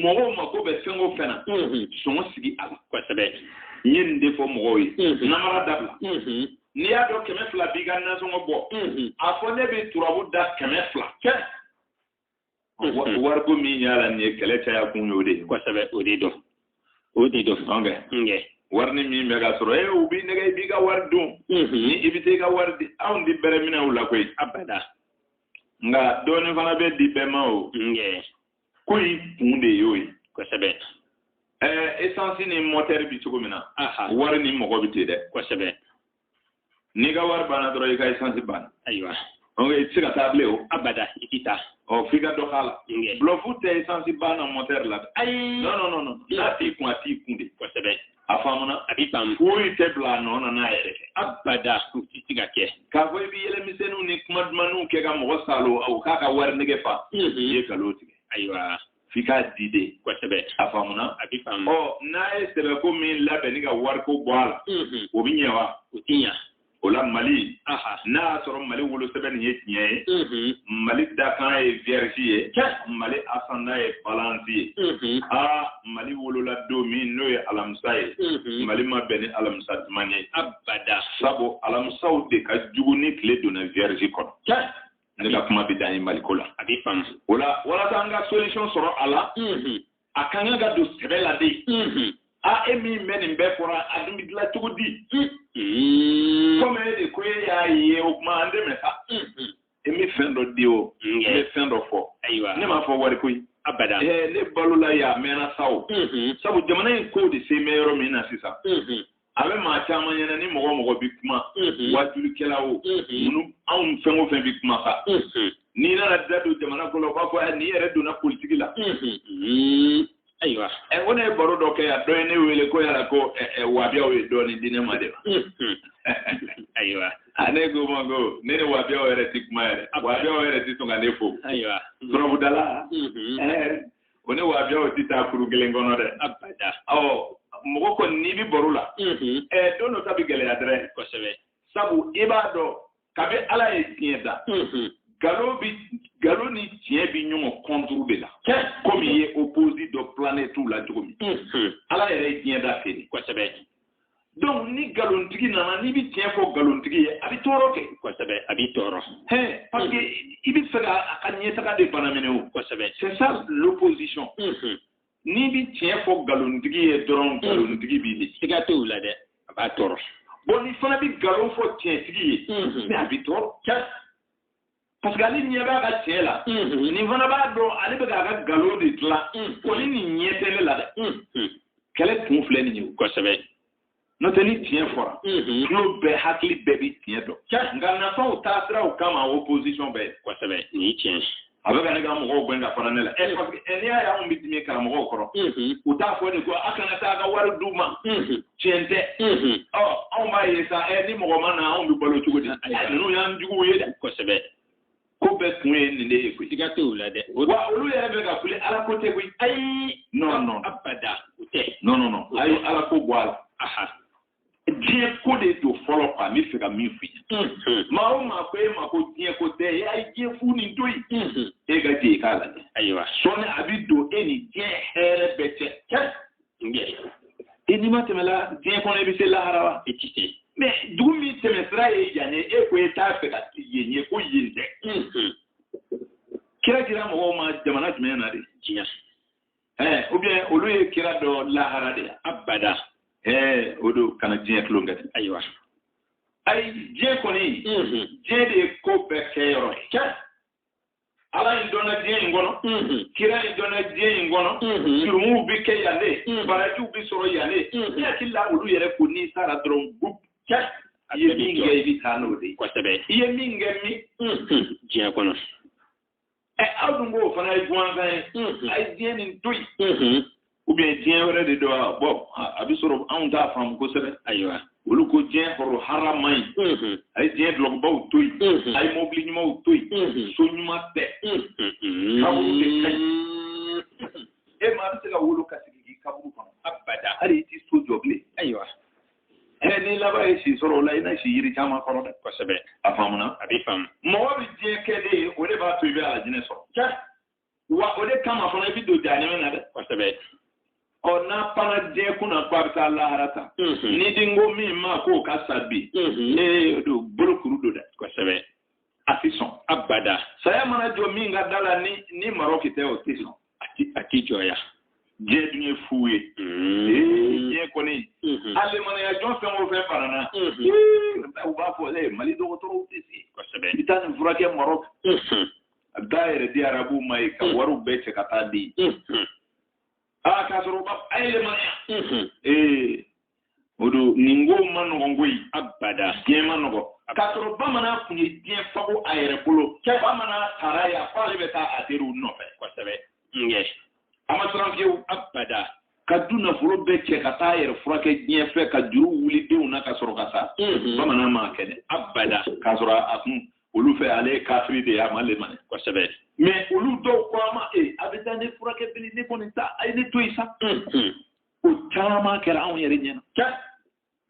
mɔgɔw mako bɛ fɛn o fɛn na sɔngɔ sigi a la kosɛbɛ n ye nin de fɔ mɔgɔw ye namara dabila n'i y'a dɔn kɛmɛ fila b'i ka nasɔngɔ bɔ a fɔ ne bɛ turabu da kɛmɛ fila wariko min y'a la nin ye kɛlɛ caya kun y'o de ye kosɛbɛ o de don o de don an fɛ wari nin min bɛ ka sɔrɔ e u b'i nɛgɛn i b'i ka wari dun ni i bɛ t'i ka wari di anw ti bɛrɛ minɛ u la koyi abada nka dɔɔnin fana bɛ di bɛɛ ma o ko in kun de y'o ye kosɛbɛ ɛɛ esansi ni mɔtɛri bi cogo min na wari ni mɔgɔ bɛ ten dɛ kosɛbɛ n'i ka wari banna dɔrɔn i ka esansi banna ayiwa donc i tɛ se ka taa bilen o abada i ti taa ɔ f'i ka dɔ k'a la bulɔfu tɛ esansi banna mɔtɛri la ayi non non non n'a t'i kun a t'i kun de kosɛbɛ a faamuna a bɛ faamu foyi tɛ bila a nɔ na n'a yɛrɛ kɛ abada o tɛ se ka kɛ k'a fɔ i bɛ yɛlɛmisɛnninw ni kuma dumanninw kɛ ka mɔgɔ salo o k'a ka wari nege fa i ye nkalon tigɛ ayiwa f'i k'a di de kosɛbɛ a faamuna a bɛ faamu ɔ n'a ye sɛbɛko min labɛn nin ka wariko bɔ a la o bɛ ɲɛ wa o tɛ ɲɛ o la mali n'a y'a sɔrɔ mali wolosɛbɛn nin ye tiɲɛ ye mali dakan ye vierge ye mali asanda ye balansi ye aa mali wolola don min n'o ye alamisa ye mali ma bɛn ni alamisa duman ye abada sabu alamisaw de ka jugu ni tile donna vierge kɔnɔ ne ka kuma bɛ dan yen maliko la a bɛ faamu o la walasa an ka solution sɔrɔ a la a ka kan ka don sɛbɛ la de a e min bɛ nin bɛɛ fɔra a dun bɛ dilan cogo di komi e de ko e y'a ye o kuma an dɛmɛ sa e bɛ fɛn dɔ di o e bɛ fɛn dɔ fɔ ne m'a fɔ wari ko ye abada ne balola ye a mɛnna sa o sabu jamana in ko de se bɛ yɔrɔ min na sisan a bɛ maa caman ɲɛna ni mɔgɔ mɔgɔ bɛ kuma wajulikɛlaw minnu anw fɛn o fɛn bɛ kuma kan n'i nana da don jamana ko la u b'a fɔ n'i yɛrɛ donna politigi la ayiwa ɛ ko ne ye baro dɔ kɛ yan dɔ ye ne wele ko yala ko wabiyaw ye dɔɔnin di ne ma de wa ayiwa ne k'o ma ko ne ni wabiyaw yɛrɛ ti kuma yɛrɛ wabiyaw yɛrɛ ti sɔn ka ne fo ayiwa turabudala ko ne wabiyaw tɛ taa kurun kelen kɔnɔ dɛ abada ɔ mɔgɔ kɔni n'i bɛ baro la ɛɛ don dɔ ta bɛ gɛlɛya dɛrɛ kosɛbɛ sabu i b'a dɔn kabi ala ye diɲɛ da kabi nkalon ni tiɲɛ bi ɲɔgɔn kɔnturu de la komi i ye oposi dɔn planɛtiw la cogo min ala yɛrɛ ye diɲɛ da feere kosɛbɛ donc ni nkalontigi nana n'i bɛ tiɲɛ fɔ nkalontigi ye a bɛ tɔɔrɔ kɛ. kosɛbɛ a b'i tɔɔrɔ. hɛn parce que i bɛ fɛ ka a ka ɲɛtaga de bana minɛ o. kosɛbɛ c'est ça l'opposition. n'i bɛ tiɲɛ fɔ nkalontigi ye dɔrɔn nkalontigi b'i di. siga tɛ o la dɛ a b'a tɔɔrɔ. bon n'i fana bɛ nkalon fɔ tiɲɛtigi ye. mais a bɛ tɔɔrɔ. parce que ale ɲɛ b'a ka tiɲɛ la nin fana b'a dɔn ale bɛ k'a ka nkalon de dilan ko ni nin ɲɛ tɛ ne la dɛ kɛlɛ kun filɛ nin ye kosɛbɛ n'o tɛ ni tiɲɛ fɔra tulo bɛɛ hakili bɛɛ bɛ tiɲɛ dɔn nka nafaw taa siraw kama opposition bɛɛ kosɛbɛ nin ye tiɲɛ a bɛ ka ne ka mɔgɔw gɛn ka fara ne la ɛ parce que n'i y'a ye anw bɛ dimi karamɔgɔw kɔrɔ u t'a fɔ de ko a kana taa a ka wari d'u ma tiɲɛ tɛ ɔ aw b'a ye sa ɛ ni mɔgɔ ma na anw bɛ balo cogo di ninnu y'an juguw ye dɛ kosɛbɛ ko bɛɛ kun ye nin de ye koyi siga t'o la dɛ wa olu yɛrɛ bɛ ka kule ala ko tɛ koyi ayi non non abada o tɛ non non non a ye ala ko bɔ a la aha diɲɛ ko de don fɔlɔ quoi n bɛ fɛ ka min f'i ye maa o maa ko e ma ko diɲɛ ko tɛ e a ye diɲɛ fu nin to yen e ka jɛ i k'a lajɛ ayiwa sɔɔni a bɛ don e ni diɲɛ hɛrɛ bɛɛ cɛ i n'i ma tɛmɛla diɲɛ kɔnɔ i bɛ se lahara wa i tɛ se mais dugu min tɛmɛ sira ye yan ye e ko e t'a fɛ ka yen ye ko yen tɛ kira dira mɔgɔw ma jamana jumɛn na de diɲɛ ɛɛ ou bien olu ye kira dɔn lahara de abada ɛɛ o don kana diɲɛ tulon kɛ ayiwa ayi diɲɛ kɔni diɲɛ de ye ko bɛɛ kɛ yɔrɔ ye ala in dɔnna diɲɛ in kɔnɔ kira in dɔnna diɲɛ in kɔnɔ jurumuw bɛ kɛ yan de barajiw bɛ sɔrɔ yan de ne hakili la olu yɛrɛ ko n'i sara dɔrɔn bup cɛ i ye min kɛ i bɛ taa n'o de ye kosɛbɛ i ye min kɛ min diɲɛ kɔnɔ ɛ aw dun b'o fana ye jɔnfɛn ye a ye diɲɛ nin to yen u bɛ diɲɛ wɛrɛ de dɔn wa bɔn a bɛ sɔrɔ anw t'a faamu kosɛbɛ ayiwa olu ko diɲɛ hɔrɔn harama ye a ye diɲɛ dulɔkibaw to yen a ye mɔbili ɲumanw to yen so ɲuman tɛ e ma bɛ se ka wolo ka sigi k'i kaburu kɔnɔ abada hali i tɛ so jɔ bilen ayiwa ɛ n'i laban ye si sɔrɔ o la i na si yiri caman kɔrɔ dɛ kosɛbɛ a faamuna a bɛ faamu mɔgɔ bɛ diɲɛ kɛ de o de b'a to i bɛ alajinɛ sɔrɔ wa o de kama fana i bɛ don jahanama na dɛ. kosɛbɛ. ɔ n'a panna diɲɛ kunna ko a bɛ taa lahara ta. n'i dun ko min ma k'o ka sa bi. ee don bolokuru don dɛ. kosɛbɛ. a ti sɔn. abada. saya mana jɔ min ka da la ni ni marɔki tɛ o ti sɔn. a ti a ti jɔya. diɲɛ dun ye fu ye. diɲɛ kɔni. a lemanaya jɔn fɛn o fɛn farana. u b'a fɔ ee mali dɔgɔtɔrɔw tɛ se. kosɛbɛ. i taa nin furakɛ marɔki. taa a yɛrɛ di arabuw ma yen ka mm. wariw bɛɛ cɛ ka taa di mm-hmm. a ah, k'a sɔrɔ u b'a a yɛlɛma mm-hmm. ee o dun nin ko man nɔgɔn koyi abada diɲɛ man nɔgɔn k'a sɔrɔ bamanan tun ye diɲɛ faga a yɛrɛ bolo bamanan sara ye a ko ale bɛ taa a teriw nɔfɛ kosɛbɛ ɲɛ a ma siran fiyewu abada ka du nafolo bɛɛ cɛ ka taa a yɛrɛ furakɛ diɲɛ fɛ ka juru wuli denw na ka sɔrɔ ka sa mm-hmm. bamanan m'a kɛ dɛ abada k'a sɔrɔ a kun olu fɛ ale ye kafiri de ye a ma lemani kosɛbɛ mais olu dɔw ko an ma e a bɛ taa ne furakɛ bilen ne kɔni ta a ye ne to yen sa o caman kɛra anw yɛrɛ ɲɛna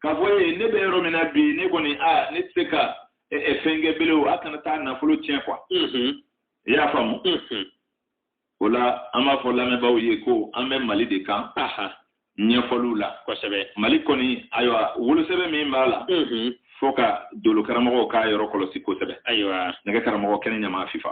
k'a fɔ e ne bɛ yɔrɔ min na bi ne kɔni a ne tɛ se ka fɛn kɛ bilen a kana taa nafolo tiɲɛ quoi i y'a faamu o la an b'a fɔ lamɛnbaaw ye ko an bɛ mali de kan ɲɛfɔliw la kosɛbɛ mali kɔni ayiwa wolosɛbɛn min b'a la fo ka dolo karamɔgɔw k'a yɔrɔ kɔlɔsi kosɛbɛ ayiwa nɛgɛ karamɔgɔ kɛnɛ ɲama fifa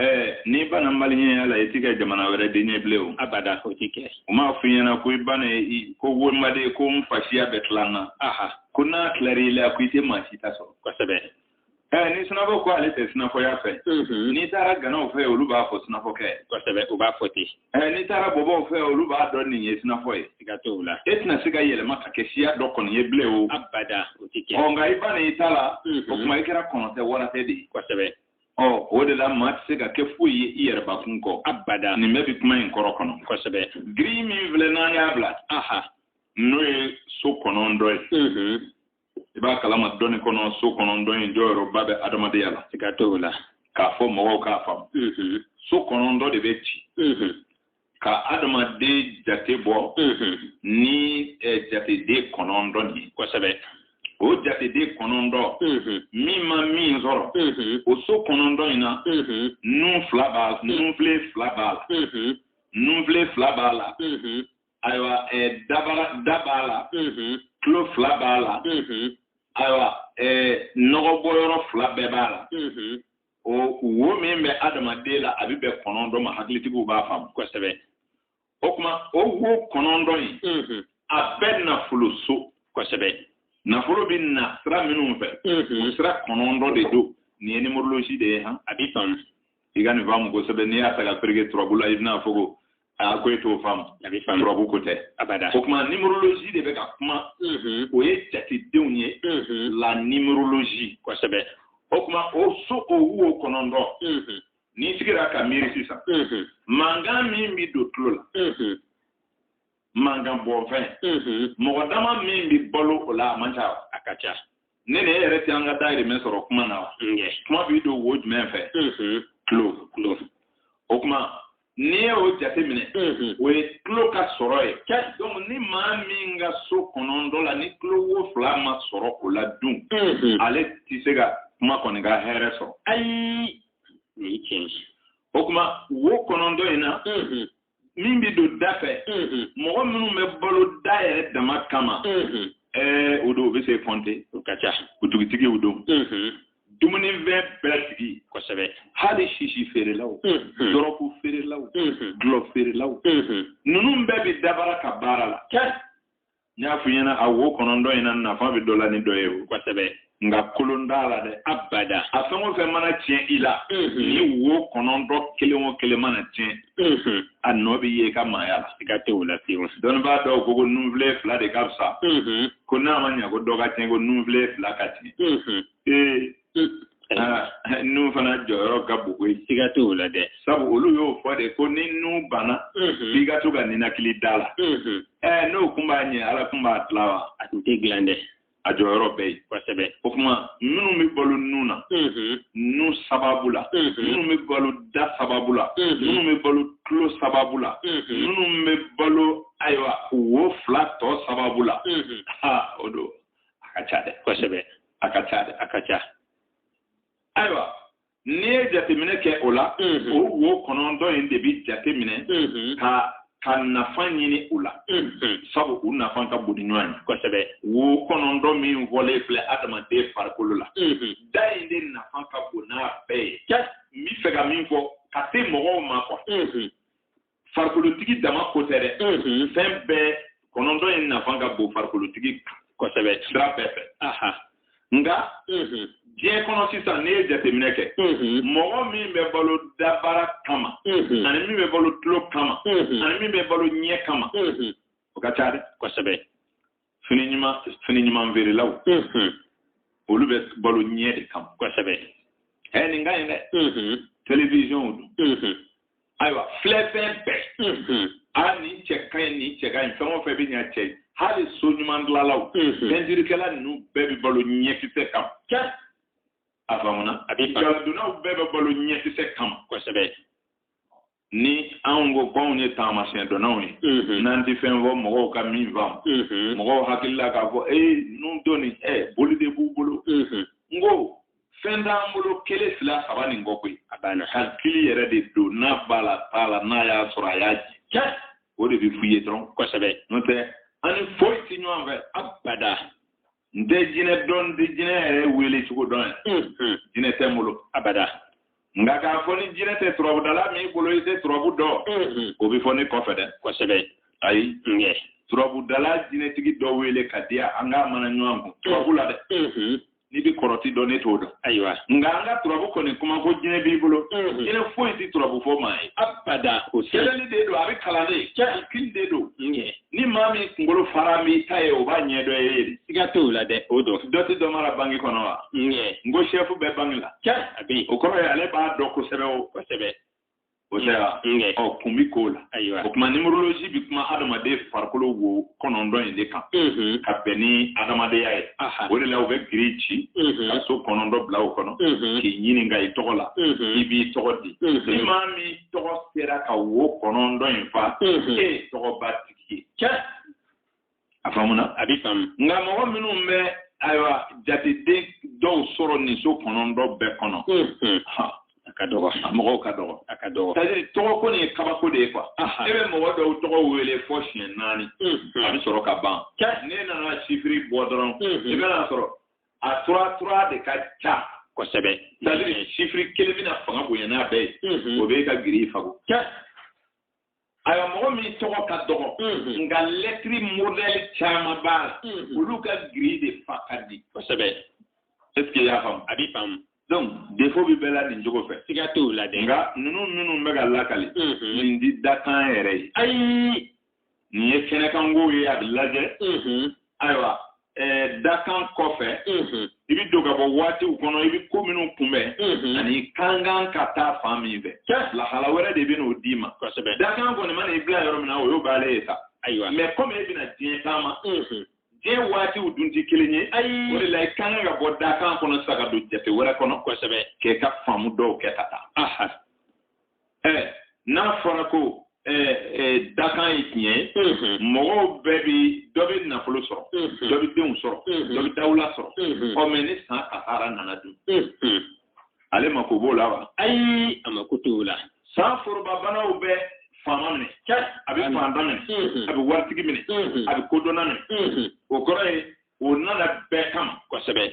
ɛɛ n'i banna maliyɛnya la i ti kɛ jamana wɛrɛ den ye bilen o abada o ti kɛ u m'a f'i ɲɛna ko i banna i ko wonbaden ko n fasiya bɛ tila n na aha ko n'a tilar'i la ko i tɛ maa si ta sɔrɔ kosɛbɛ ɛɛ ni sinafɔ ko ale tɛ sinafɔya fɛ n'i taara ganaw fɛ olu b'a fɔ sinafɔkɛ kosɛbɛ u b'a fɔ ten ɛɛ n'i taara bɔbɔw fɛ olu b'a dɔn nin ye sinafɔ ye siga t'o la e tɛna se ka yɛlɛma ka kɛ siya dɔ kɔni ye bilen o abada o ti kɛ ɔ nka i banna i ta la o tuma i kɛra kɔnɔ tɛ wara tɛ de ye kosɛbɛ ɔ o de la maa tɛ se ka kɛ foyi ye i yɛrɛ bakun kɔ abada nin bɛɛ bɛ kuma in kɔrɔ kɔnɔ kosɛbɛ giri min filɛ n'an y'a bila aha n'o ye so kɔnɔntɔ ye mhm. i b'a kalama dɔnni kɔnɔ so kɔnɔntɔ in jɔyɔrɔba bɛ adamadenya la i ka to o la k'a fɔ mɔgɔw k'a faamu mhm. so kɔnɔntɔ de bɛ ci mhm. ka adamaden jate bɔ ni jateden kɔnɔntɔn de ye kosɛbɛ o jateden kɔnɔntɔn min ma min sɔrɔ o so kɔnɔntɔn in na nun fila b'a la nunfile fila b'a la nunfile fila b'a la ayiwa dabara da b'a la tulo fila b'a la ayiwa nɔgɔbɔyɔrɔ fila bɛɛ b'a la o wo min bɛ adamaden la a bɛ bɛn kɔnɔntɔn ma hakilitigiw b'a faamu kosɛbɛ o kuma o wo kɔnɔntɔn in mm-hmm. a bɛɛ nafolo so kosɛbɛ nafolo bɛ na sira minnu fɛ mm-hmm. o sira kɔnɔntɔn de don nin ye numérologie de ye han a b'i faamu i ka nin faamu kosɛbɛ n'i y'a ta k'a pereke turabu la i bɛna fɔ ko aa ko e t'o faamu a bɛ faamu turabu ko tɛ abada o kuma numérologie de bɛ ka kuma o ye jatedenw ye la numérologie kosɛbɛ o kuma o so o wo kɔnɔntɔn n'i sigira ka miiri sisan mankan min bɛ don tulo la mankanbɔfɛn mɔgɔ dama min bɛ balo o la a man ca a ka ca ne ni e yɛrɛ tɛ an ka dayirimɛ sɔrɔ kuma na wa kuma bɛ don wo jumɛn fɛ tulo tulo o kuma n'i y'o jate minɛ o ye tulo ka sɔrɔ ye donc ni maa min ka so kɔnɔntɔn na ni tulo wo fila ma sɔrɔ o la dun ale tɛ se ka kuma kɔni ka hɛrɛ sɔrɔ ayi o kuma wo kɔnɔntɔn in na min bɛ don da fɛ mɔgɔ minnu bɛ balo da yɛrɛ dama kama ɛɛ o don u bɛ se kɔnte o ka ca butigitigiw don dumunifɛn bɛɛ sigi kosɛbɛ hali sisi feerelaw dɔrɔgu feerelaw dɔlɔ feerelaw ninnu bɛɛ bɛ dabara ka baara la n y'a f'i ɲɛna a wo kɔnɔntɔn in na nafa bɛ dɔ la ni dɔ ye o kosɛbɛ nka kolon t'a la dɛ abada a fɛn o fɛn mana tiɲɛ i la ni wo kɔnɔntɔn kelen o kelen mana tiɲɛ a nɔ bɛ ye i ka maaya la siga t'o la fewu dɔnnibaa dɔw ko ko nunfile fila de ka fisa ko n'a ma ɲɛ ko dɔ ka tiɲɛ ko nunfile fila ka tiɲɛ ee nun fana jɔyɔrɔ ka bon koyi siga t'o la dɛ sabu olu y'o fɔ de ko ni nun banna f'i ka to ka ninakili da la ɛɛ n'o kun b'a ɲɛ ala kun b'a dilan wa a tun tɛ dilan dɛ a jɔyɔrɔ bɛ yen kosɛbɛ o kuma minnu bɛ balo nun na nun sababu la minnu bɛ balo da sababu la minnu bɛ balo tulo sababu la minnu bɛ balo ayiwa wo fila tɔ sababu la o don a ka ca dɛ kosɛbɛ a ka ca dɛ a ka ca ayiwa n'i ye jateminɛ kɛ o la o wo kɔnɔntɔn in de bɛ jateminɛ ka ka nafa ɲini u la sabu u nafa ka bon ni ɲɔgɔn ye kosɛbɛ wo kɔnɔntɔn min fɔlen filɛ adamaden farikolo la da in de nafa ka bon n'a bɛɛ ye n bɛ fɛ ka min fɔ ka se mɔgɔw ma kɔ farikolotigi dama ko tɛ dɛ fɛn bɛɛ kɔnɔntɔn in nafa ka bon farikolotigi kosɛbɛ sira bɛɛ fɛ nka diɲɛ kɔnɔ sisan n'i ye jateminɛ kɛ mɔgɔ min bɛ balo dabara kama ani min bɛ balo tulo kama ani min bɛ balo ɲɛ kama o ka ca dɛ kosɛbɛ fini ɲuman fini ɲuman feerelaw olu bɛ balo ɲɛ de kama kosɛbɛ ɛ nin ka ɲi dɛ televizyɔnw don ayiwa filɛfɛn bɛɛ a nin cɛ ka ɲi nin cɛ ka ɲi fɛn o fɛn bɛ ɲa cɛ ye hali so ɲuman dilanlaw pɛntirikɛla ninnu bɛɛ bɛ balo ɲɛkisɛ kama a faamuna a bɛ balo bɛɛ bɛ balo ɲɛkisɛ kama kosɛbɛ ni anw ko k'anw ye taamasiyɛn dɔnnaw ye mm-hmm. n'an tɛ fɛn fɔ mɔgɔw ka min faamu mm-hmm. mɔgɔw hakili la k'a fɔ ee ninnu dɔnni ɛ boli de b'u bolo mm-hmm. n ko fɛn t'an bolo kelen fila saba nin kɔ koyi a banna hakili yɛrɛ de don n'a b'a la t'a la n'a y'a sɔrɔ a y'a jɛ o de bɛ f'u ye dɔrɔn kosɛbɛ n'o tɛ an ni foyi tɛ ɲɔgɔn fɛ abada n tɛ jinɛ dɔn n tɛ jinɛ yɛrɛ wele cogo dɔn yan jinɛ tɛ n bolo abada nka k'a fɔ ni jinɛ tɛ turabudala min bolo i tɛ turabu dɔn o bɛ fɔ ne kɔfɛ dɛ kosɛbɛ ayi ɲɛ turabudala jinɛtigi dɔ wele k'a di yan an k'a mana ɲɔgɔn kun turabu la dɛ n'i bɛ kɔrɔti dɔn ne t'o dɔn ayiwa nka an ka turabu kɔni kuma ko jinɛ b'i bolo jinɛ foyi tɛ turabu fɔ maa ye abada o sɛbɛnni de don a bɛ kalan de hakili de don ɲɛ ni maa min kunkolo fara n'i ta ye o b'a ɲɛ dɔn e ye de siga t'o la dɛ o don dɔ tɛ dɔ mara banki kɔnɔ wa ŋɛ n ko sɛfu bɛ banki la cɛ a bɛ yen o kɔrɔ ye ale b'a dɔn kosɛbɛ o kosɛbɛ o tɛ wa ŋɛ ɔ kun bi ko la ayiwa o tuma nimorolozi bi kuma adamaden farikolo wo kɔnɔntɔn in de kan ka bɛn ni adamadenya ye o de la u bɛ giri ci ka so kɔnɔntɔn bila o kɔnɔ k'i ɲininka i tɔgɔ la i b'i tɔgɔ di ni maa min tɔgɔ sera ka wo kɔnɔntɔn in fa e ye tɔgɔba tigi ye a faamuna a bɛ faamu nka mɔgɔ minnu bɛ ayiwa jateden dɔw sɔrɔ nin so kɔnɔntɔn bɛɛ kɔnɔ a ka dɔgɔ a mɔgɔw ka dɔgɔ a ka dɔgɔ c'est-à-dire tɔgɔ ko nin ye kabako de ye quoi e bɛ mɔgɔ dɔw tɔgɔ wele fɔ siɲɛ naani a bɛ sɔrɔ ka ban n'i nana sifiri bɔ dɔrɔn i bɛn'a sɔrɔ a trois trois de ka ca kosɛbɛ c'est-à-dire sifiri kelen bɛna fanga bonya n'a bɛɛ ye mm-hmm. o bɛ ka giri fa ko ayiwa mɔgɔ min tɔgɔ ka dɔgɔ mm-hmm. nka lɛtiri modɛli caman b'a la mm-hmm. olu ka giri de fa ka di kosɛbɛ est ce que i y'a faamu a bɛ faamu donc defo bɛ bɛɛ la nin cogo fɛ siga t'o la dɛ nka ninnu minnu bɛ ka lakali nin tɛ dakan yɛrɛ ye ayi nin ye kɛnɛkanko ye a bɛ lajɛ ayiwa dakan kɔfɛ i bɛ don ka bɔ waatiw kɔnɔ i bɛ ko minnu kunbɛn ani i ka kan ka taa fan min fɛ lahala wɛrɛ de bɛn'o d'i ma dakan kɔni mana i bila yɔrɔ min na o y'o b'ale ye sa ayiwa mɛ kɔmi e bɛna diɲɛ taama diɲɛ waatiw dun tɛ kelen ye ayi o de la i ka kan ka bɔ dakan kɔnɔ sa ka don jate wɛrɛ kɔnɔ kosɛbɛ k'e ka faamu dɔw kɛ ka taa ɛɛ n'a fɔra ko dakan ye tiɲɛ ye mɔgɔw bɛɛ bɛ dɔ bɛ nafolo sɔrɔ dɔ bɛ denw sɔrɔ dɔ bɛ dawula sɔrɔ ɔ mɛ ni san kasara nana dun ale mako b'o la wa ayi a mako t'o la san forobabanaw bɛ faama minɛ a bɛ faantan minɛ a bɛ waritigi minɛ a bɛ kodɔnna minɛ o kɔrɔ ye o nana bɛɛ kama kosɛbɛ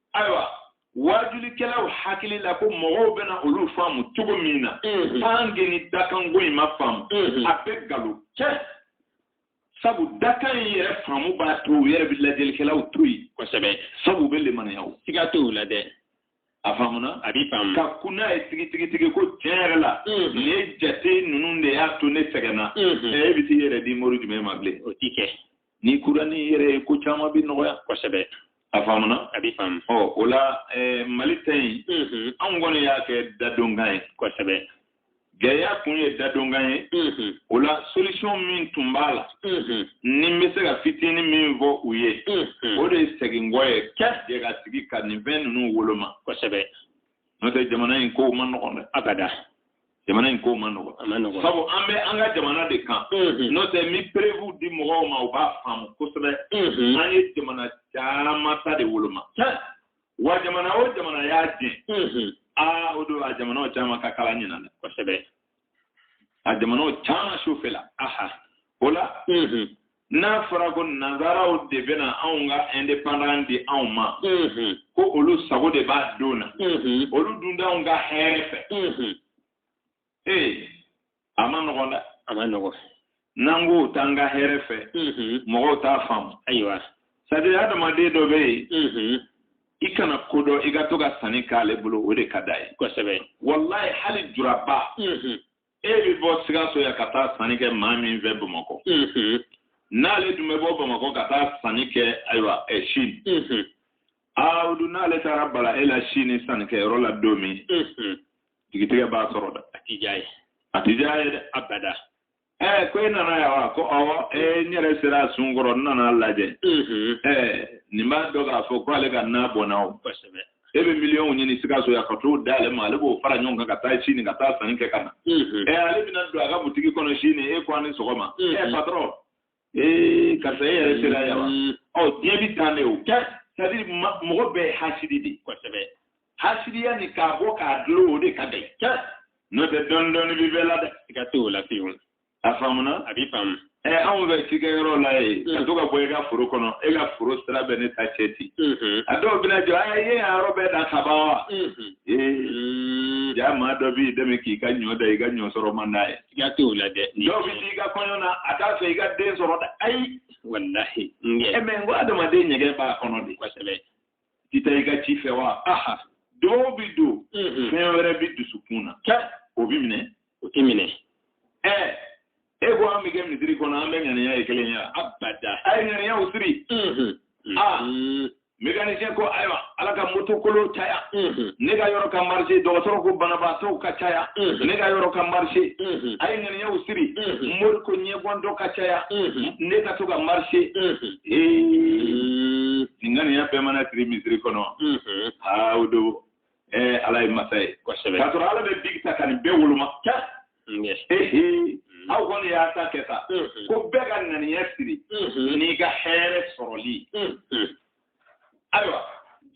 ayiwa waajulikɛlaw hakili la ko mɔgɔw bɛna olu faamu cogo min na tanke ni dakanko in ma faamu a bɛ galo cɛ sabu dakan in yɛrɛ faamu b'a to u yɛrɛ bɛ lajɛlikɛlaw to yen kosɛbɛ sabu u bɛ limaniya o siga t'o la dɛ a faamuna a b'i faamu ka kun n'a ye tigitigitigi ko tiɲɛ yɛrɛ la mm-hmm. nin ye jate ninnu de y'a to ne sɛgɛnna mm-hmm. e bɛ t'i yɛrɛ di mori jumɛn ma bilen o tɛ kɛ ni kurani yɛrɛ ko caman bɛ nɔgɔya kosɛbɛ a faamuna a bɛ faamu ɔ o la eh, mali ta in mhm. anw kɔni y'a kɛ dadonkan ye kosɛbɛ gɛlɛya kun ye dadonkan ye mhm. o la solution min tun b'a la mhm. ni n bɛ se ka fitinin min fɔ u ye o de ye seginkɔ ye ka jɛ ka sigi ka nin fɛn ninnu woloma kosɛbɛ n'o tɛ jamana in kow man nɔgɔn dɛ abada jamana in ko man nɔgɔn sabu an bɛ an ka jamana de kan mm-hmm. n'o tɛ ni perewu di mɔgɔw ma u b'a faamu kosɛbɛ mm-hmm. an ye jamana caman ta de woloma wa jamana o jamana y'a jɛ mm-hmm. aa o don a jamanaw caman ka kala ɲinan dɛ kosɛbɛ a jamanaw caman sufɛ la aha o la n'a fɔra ko nansaraw de bɛna anw ka indépendance di anw ma ko olu sago de b'a don na olu dun t'anw ka hɛrɛ fɛ ee a man nɔgɔn dɛ a man nɔgɔn n'an ko u t'an ka hɛrɛ fɛ mɔgɔw t'a faamu ayiwa c'est à dire adamaden dɔ bɛ yen i kana ko dɔn i ka to ka sanni k'ale bolo o de ka d'a ye kosɛbɛ walayi hali juraba e bɛ bɔ sikaso yan ka taa sanni kɛ maa min fɛ bamakɔ n'ale tun bɛ bɔ bamakɔ ka taa sanni kɛ ayiwa ɛ sini aawudu n'ale taara bala e la sini sannikɛyɔrɔ la don min jigitigɛ b'a sɔrɔ dɛ a ti diy'a ye a ti diy'a ye dɛ abada ɛɛ ko e nana yan wa ko ɔwɔ ee n yɛrɛ sera a sun kɔrɔ n nana lajɛ ɛɛ nin b'a dɔn k'a fɔ ko ale ka na bɔnna o kosɛbɛ e bɛ miliyɔnw ɲini sikaso yan ka t'o d'ale ma ale b'o fara ɲɔgɔn kan ka taa sini ka taa sanni kɛ ka na ɛ ale bɛna don a ka butigi kɔnɔ sini e ko an ni sɔgɔma ɛ patɔrɔn ee karisa e yɛrɛ sera yan wa ɔ diɲɛ bɛ tan de o c'est-à-dire mɔgɔ bɛɛ hasidi de kosɛbɛ hasidiya ni k'a bɔ k'a dulon o de ka gɛlɛn n'o tɛ dɔɔnin dɔɔnin bɛ bɛɛ la dɛ siga t'o la fiyewu a faamuna a b'i faamu ɛ anw bɛ cikɛ yɔrɔ la yen ka to ka bɔ i ka foro kɔnɔ e ka foro sira bɛ ne ta cɛ ten a dɔw bɛna jɔ a ye a yɔrɔ bɛɛ dan kaban wa ee ja maa dɔ b'i dɛmɛ k'i ka ɲɔ dan i ka ɲɔ sɔrɔ man d'a ye siga tɛ o la dɛ dɔw bɛ t'i ka kɔɲɔ na a t'a fɛ i ka den sɔrɔ dɛ ayi walahi ɛ mɛ n ko adamaden ɲɛgɛn b'a kɔnɔ de kosɛbɛ ti taa i ka ci fɛ wa aha dɔw bɛ don fɛn wɛrɛ bɛ dusukun na o bɛ minɛ o tɛ minɛ ɛɛ e ko an bɛ kɛ misiri kɔnɔ an bɛɛ ŋaniya ye kelen ye abada a ye ŋaniyaw siri aa mécanicien ko ayiwa ala ka moto kolon caya ne ka yɔrɔ ka marché dɔgɔtɔrɔ ko banabaatɔw ka caya ne ka yɔrɔ ka marché a ye ŋaniyaw siri mori ko ɲɛbɔn dɔ ka caya ne ka to ka marché ee nin ŋaniya bɛɛ mana siri misiri kɔnɔ aa o don ee ala ye masa ye kosɛbɛ k'a sɔrɔ ala bɛ bigi ta ka nin bɛɛ woloma sa ehe aw kɔni y'a ta kɛ sa ko bɛɛ ka ŋaniya siri n'i ka hɛrɛ sɔrɔli ayiwa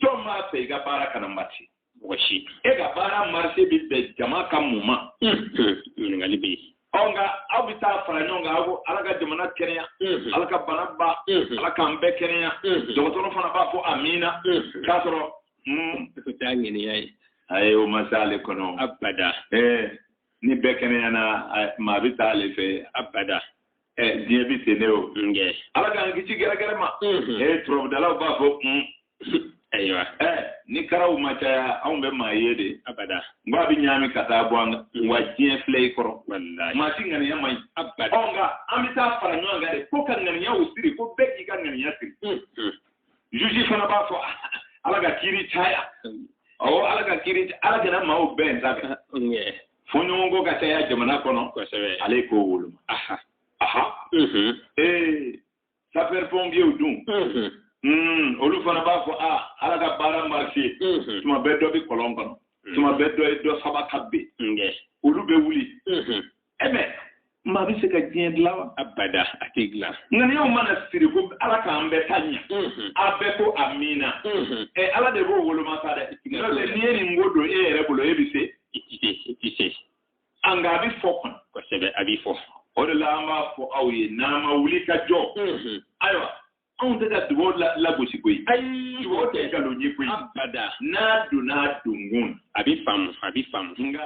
jɔn b'a fɛ i ka baara kana marché mɔgɔ si e ka baara marché bɛ bɛn jama ka mun ma ɲininkali bɛ yen ɔ nka aw bɛ taa fara ɲɔgɔn kan aw ko ala ka jamana kɛnɛya ala ka bana ban ala k'an bɛɛ kɛnɛya dɔgɔtɔrɔ fana b'a fɔ amiina k'a sɔrɔ k'o t'a ŋaniya ye ayi o ma se ale kɔnɔ abada ni bɛɛ kɛnɛyana maa bɛ taa ale fɛ abada diɲɛ bɛ ten ne o ala k'an kisi gɛrɛgɛrɛ ma turabudalaw b'a fɔ ko ayiwa ni karaw ma caya anw bɛ maa ye de abada n ko a bɛ ɲaami ka taa bɔ an kan wa diɲɛ filɛ i kɔrɔ maa si ŋaniya man ɲi abada nka an bɛ taa fara ɲɔgɔn kan de ko ka ŋaniyaw siri ko bɛɛ k'i ka ŋaniya siri juge fana b'a fɔ ala ka kiri caya awɔ ala ka kiri ala kana maaw bɛn sa kɛ fɔɲɔgɔnkɔ ka caya jamana kɔnɔ kosɛbɛ ale k'o woloma aha aha ee sapeur pompiers dun olu fana b'a fɔ a ala ka baara marché tuma bɛɛ dɔ bɛ kɔlɔn kɔnɔ tuma bɛɛ dɔ ye dɔ saba ka bɛn olu bɛ wuli ɛmɛ maa bɛ se ka diɲɛ dilan wa. abada a tɛ dilan. ŋaniyaw mana siri ko ala k'an bɛɛ ta ɲɛ. a bɛɛ ko amiina. ɛ ala de b'o woloma sa dɛ. n'o tɛ n'i ye nin ko don e yɛrɛ bolo e bɛ se. i ti se i ti se. a nka a bɛ fɔ kɔni. kosɛbɛ a bɛ fɔ. o de la an b'a fɔ aw ye n'an ma wuli ka jɔ. ayiwa anw tɛ ka dugaw lagosi koyi ayi dugaw tɛ nkalon ye koyi abada n'a donna donkun a bɛ faamu a bɛ faamu nka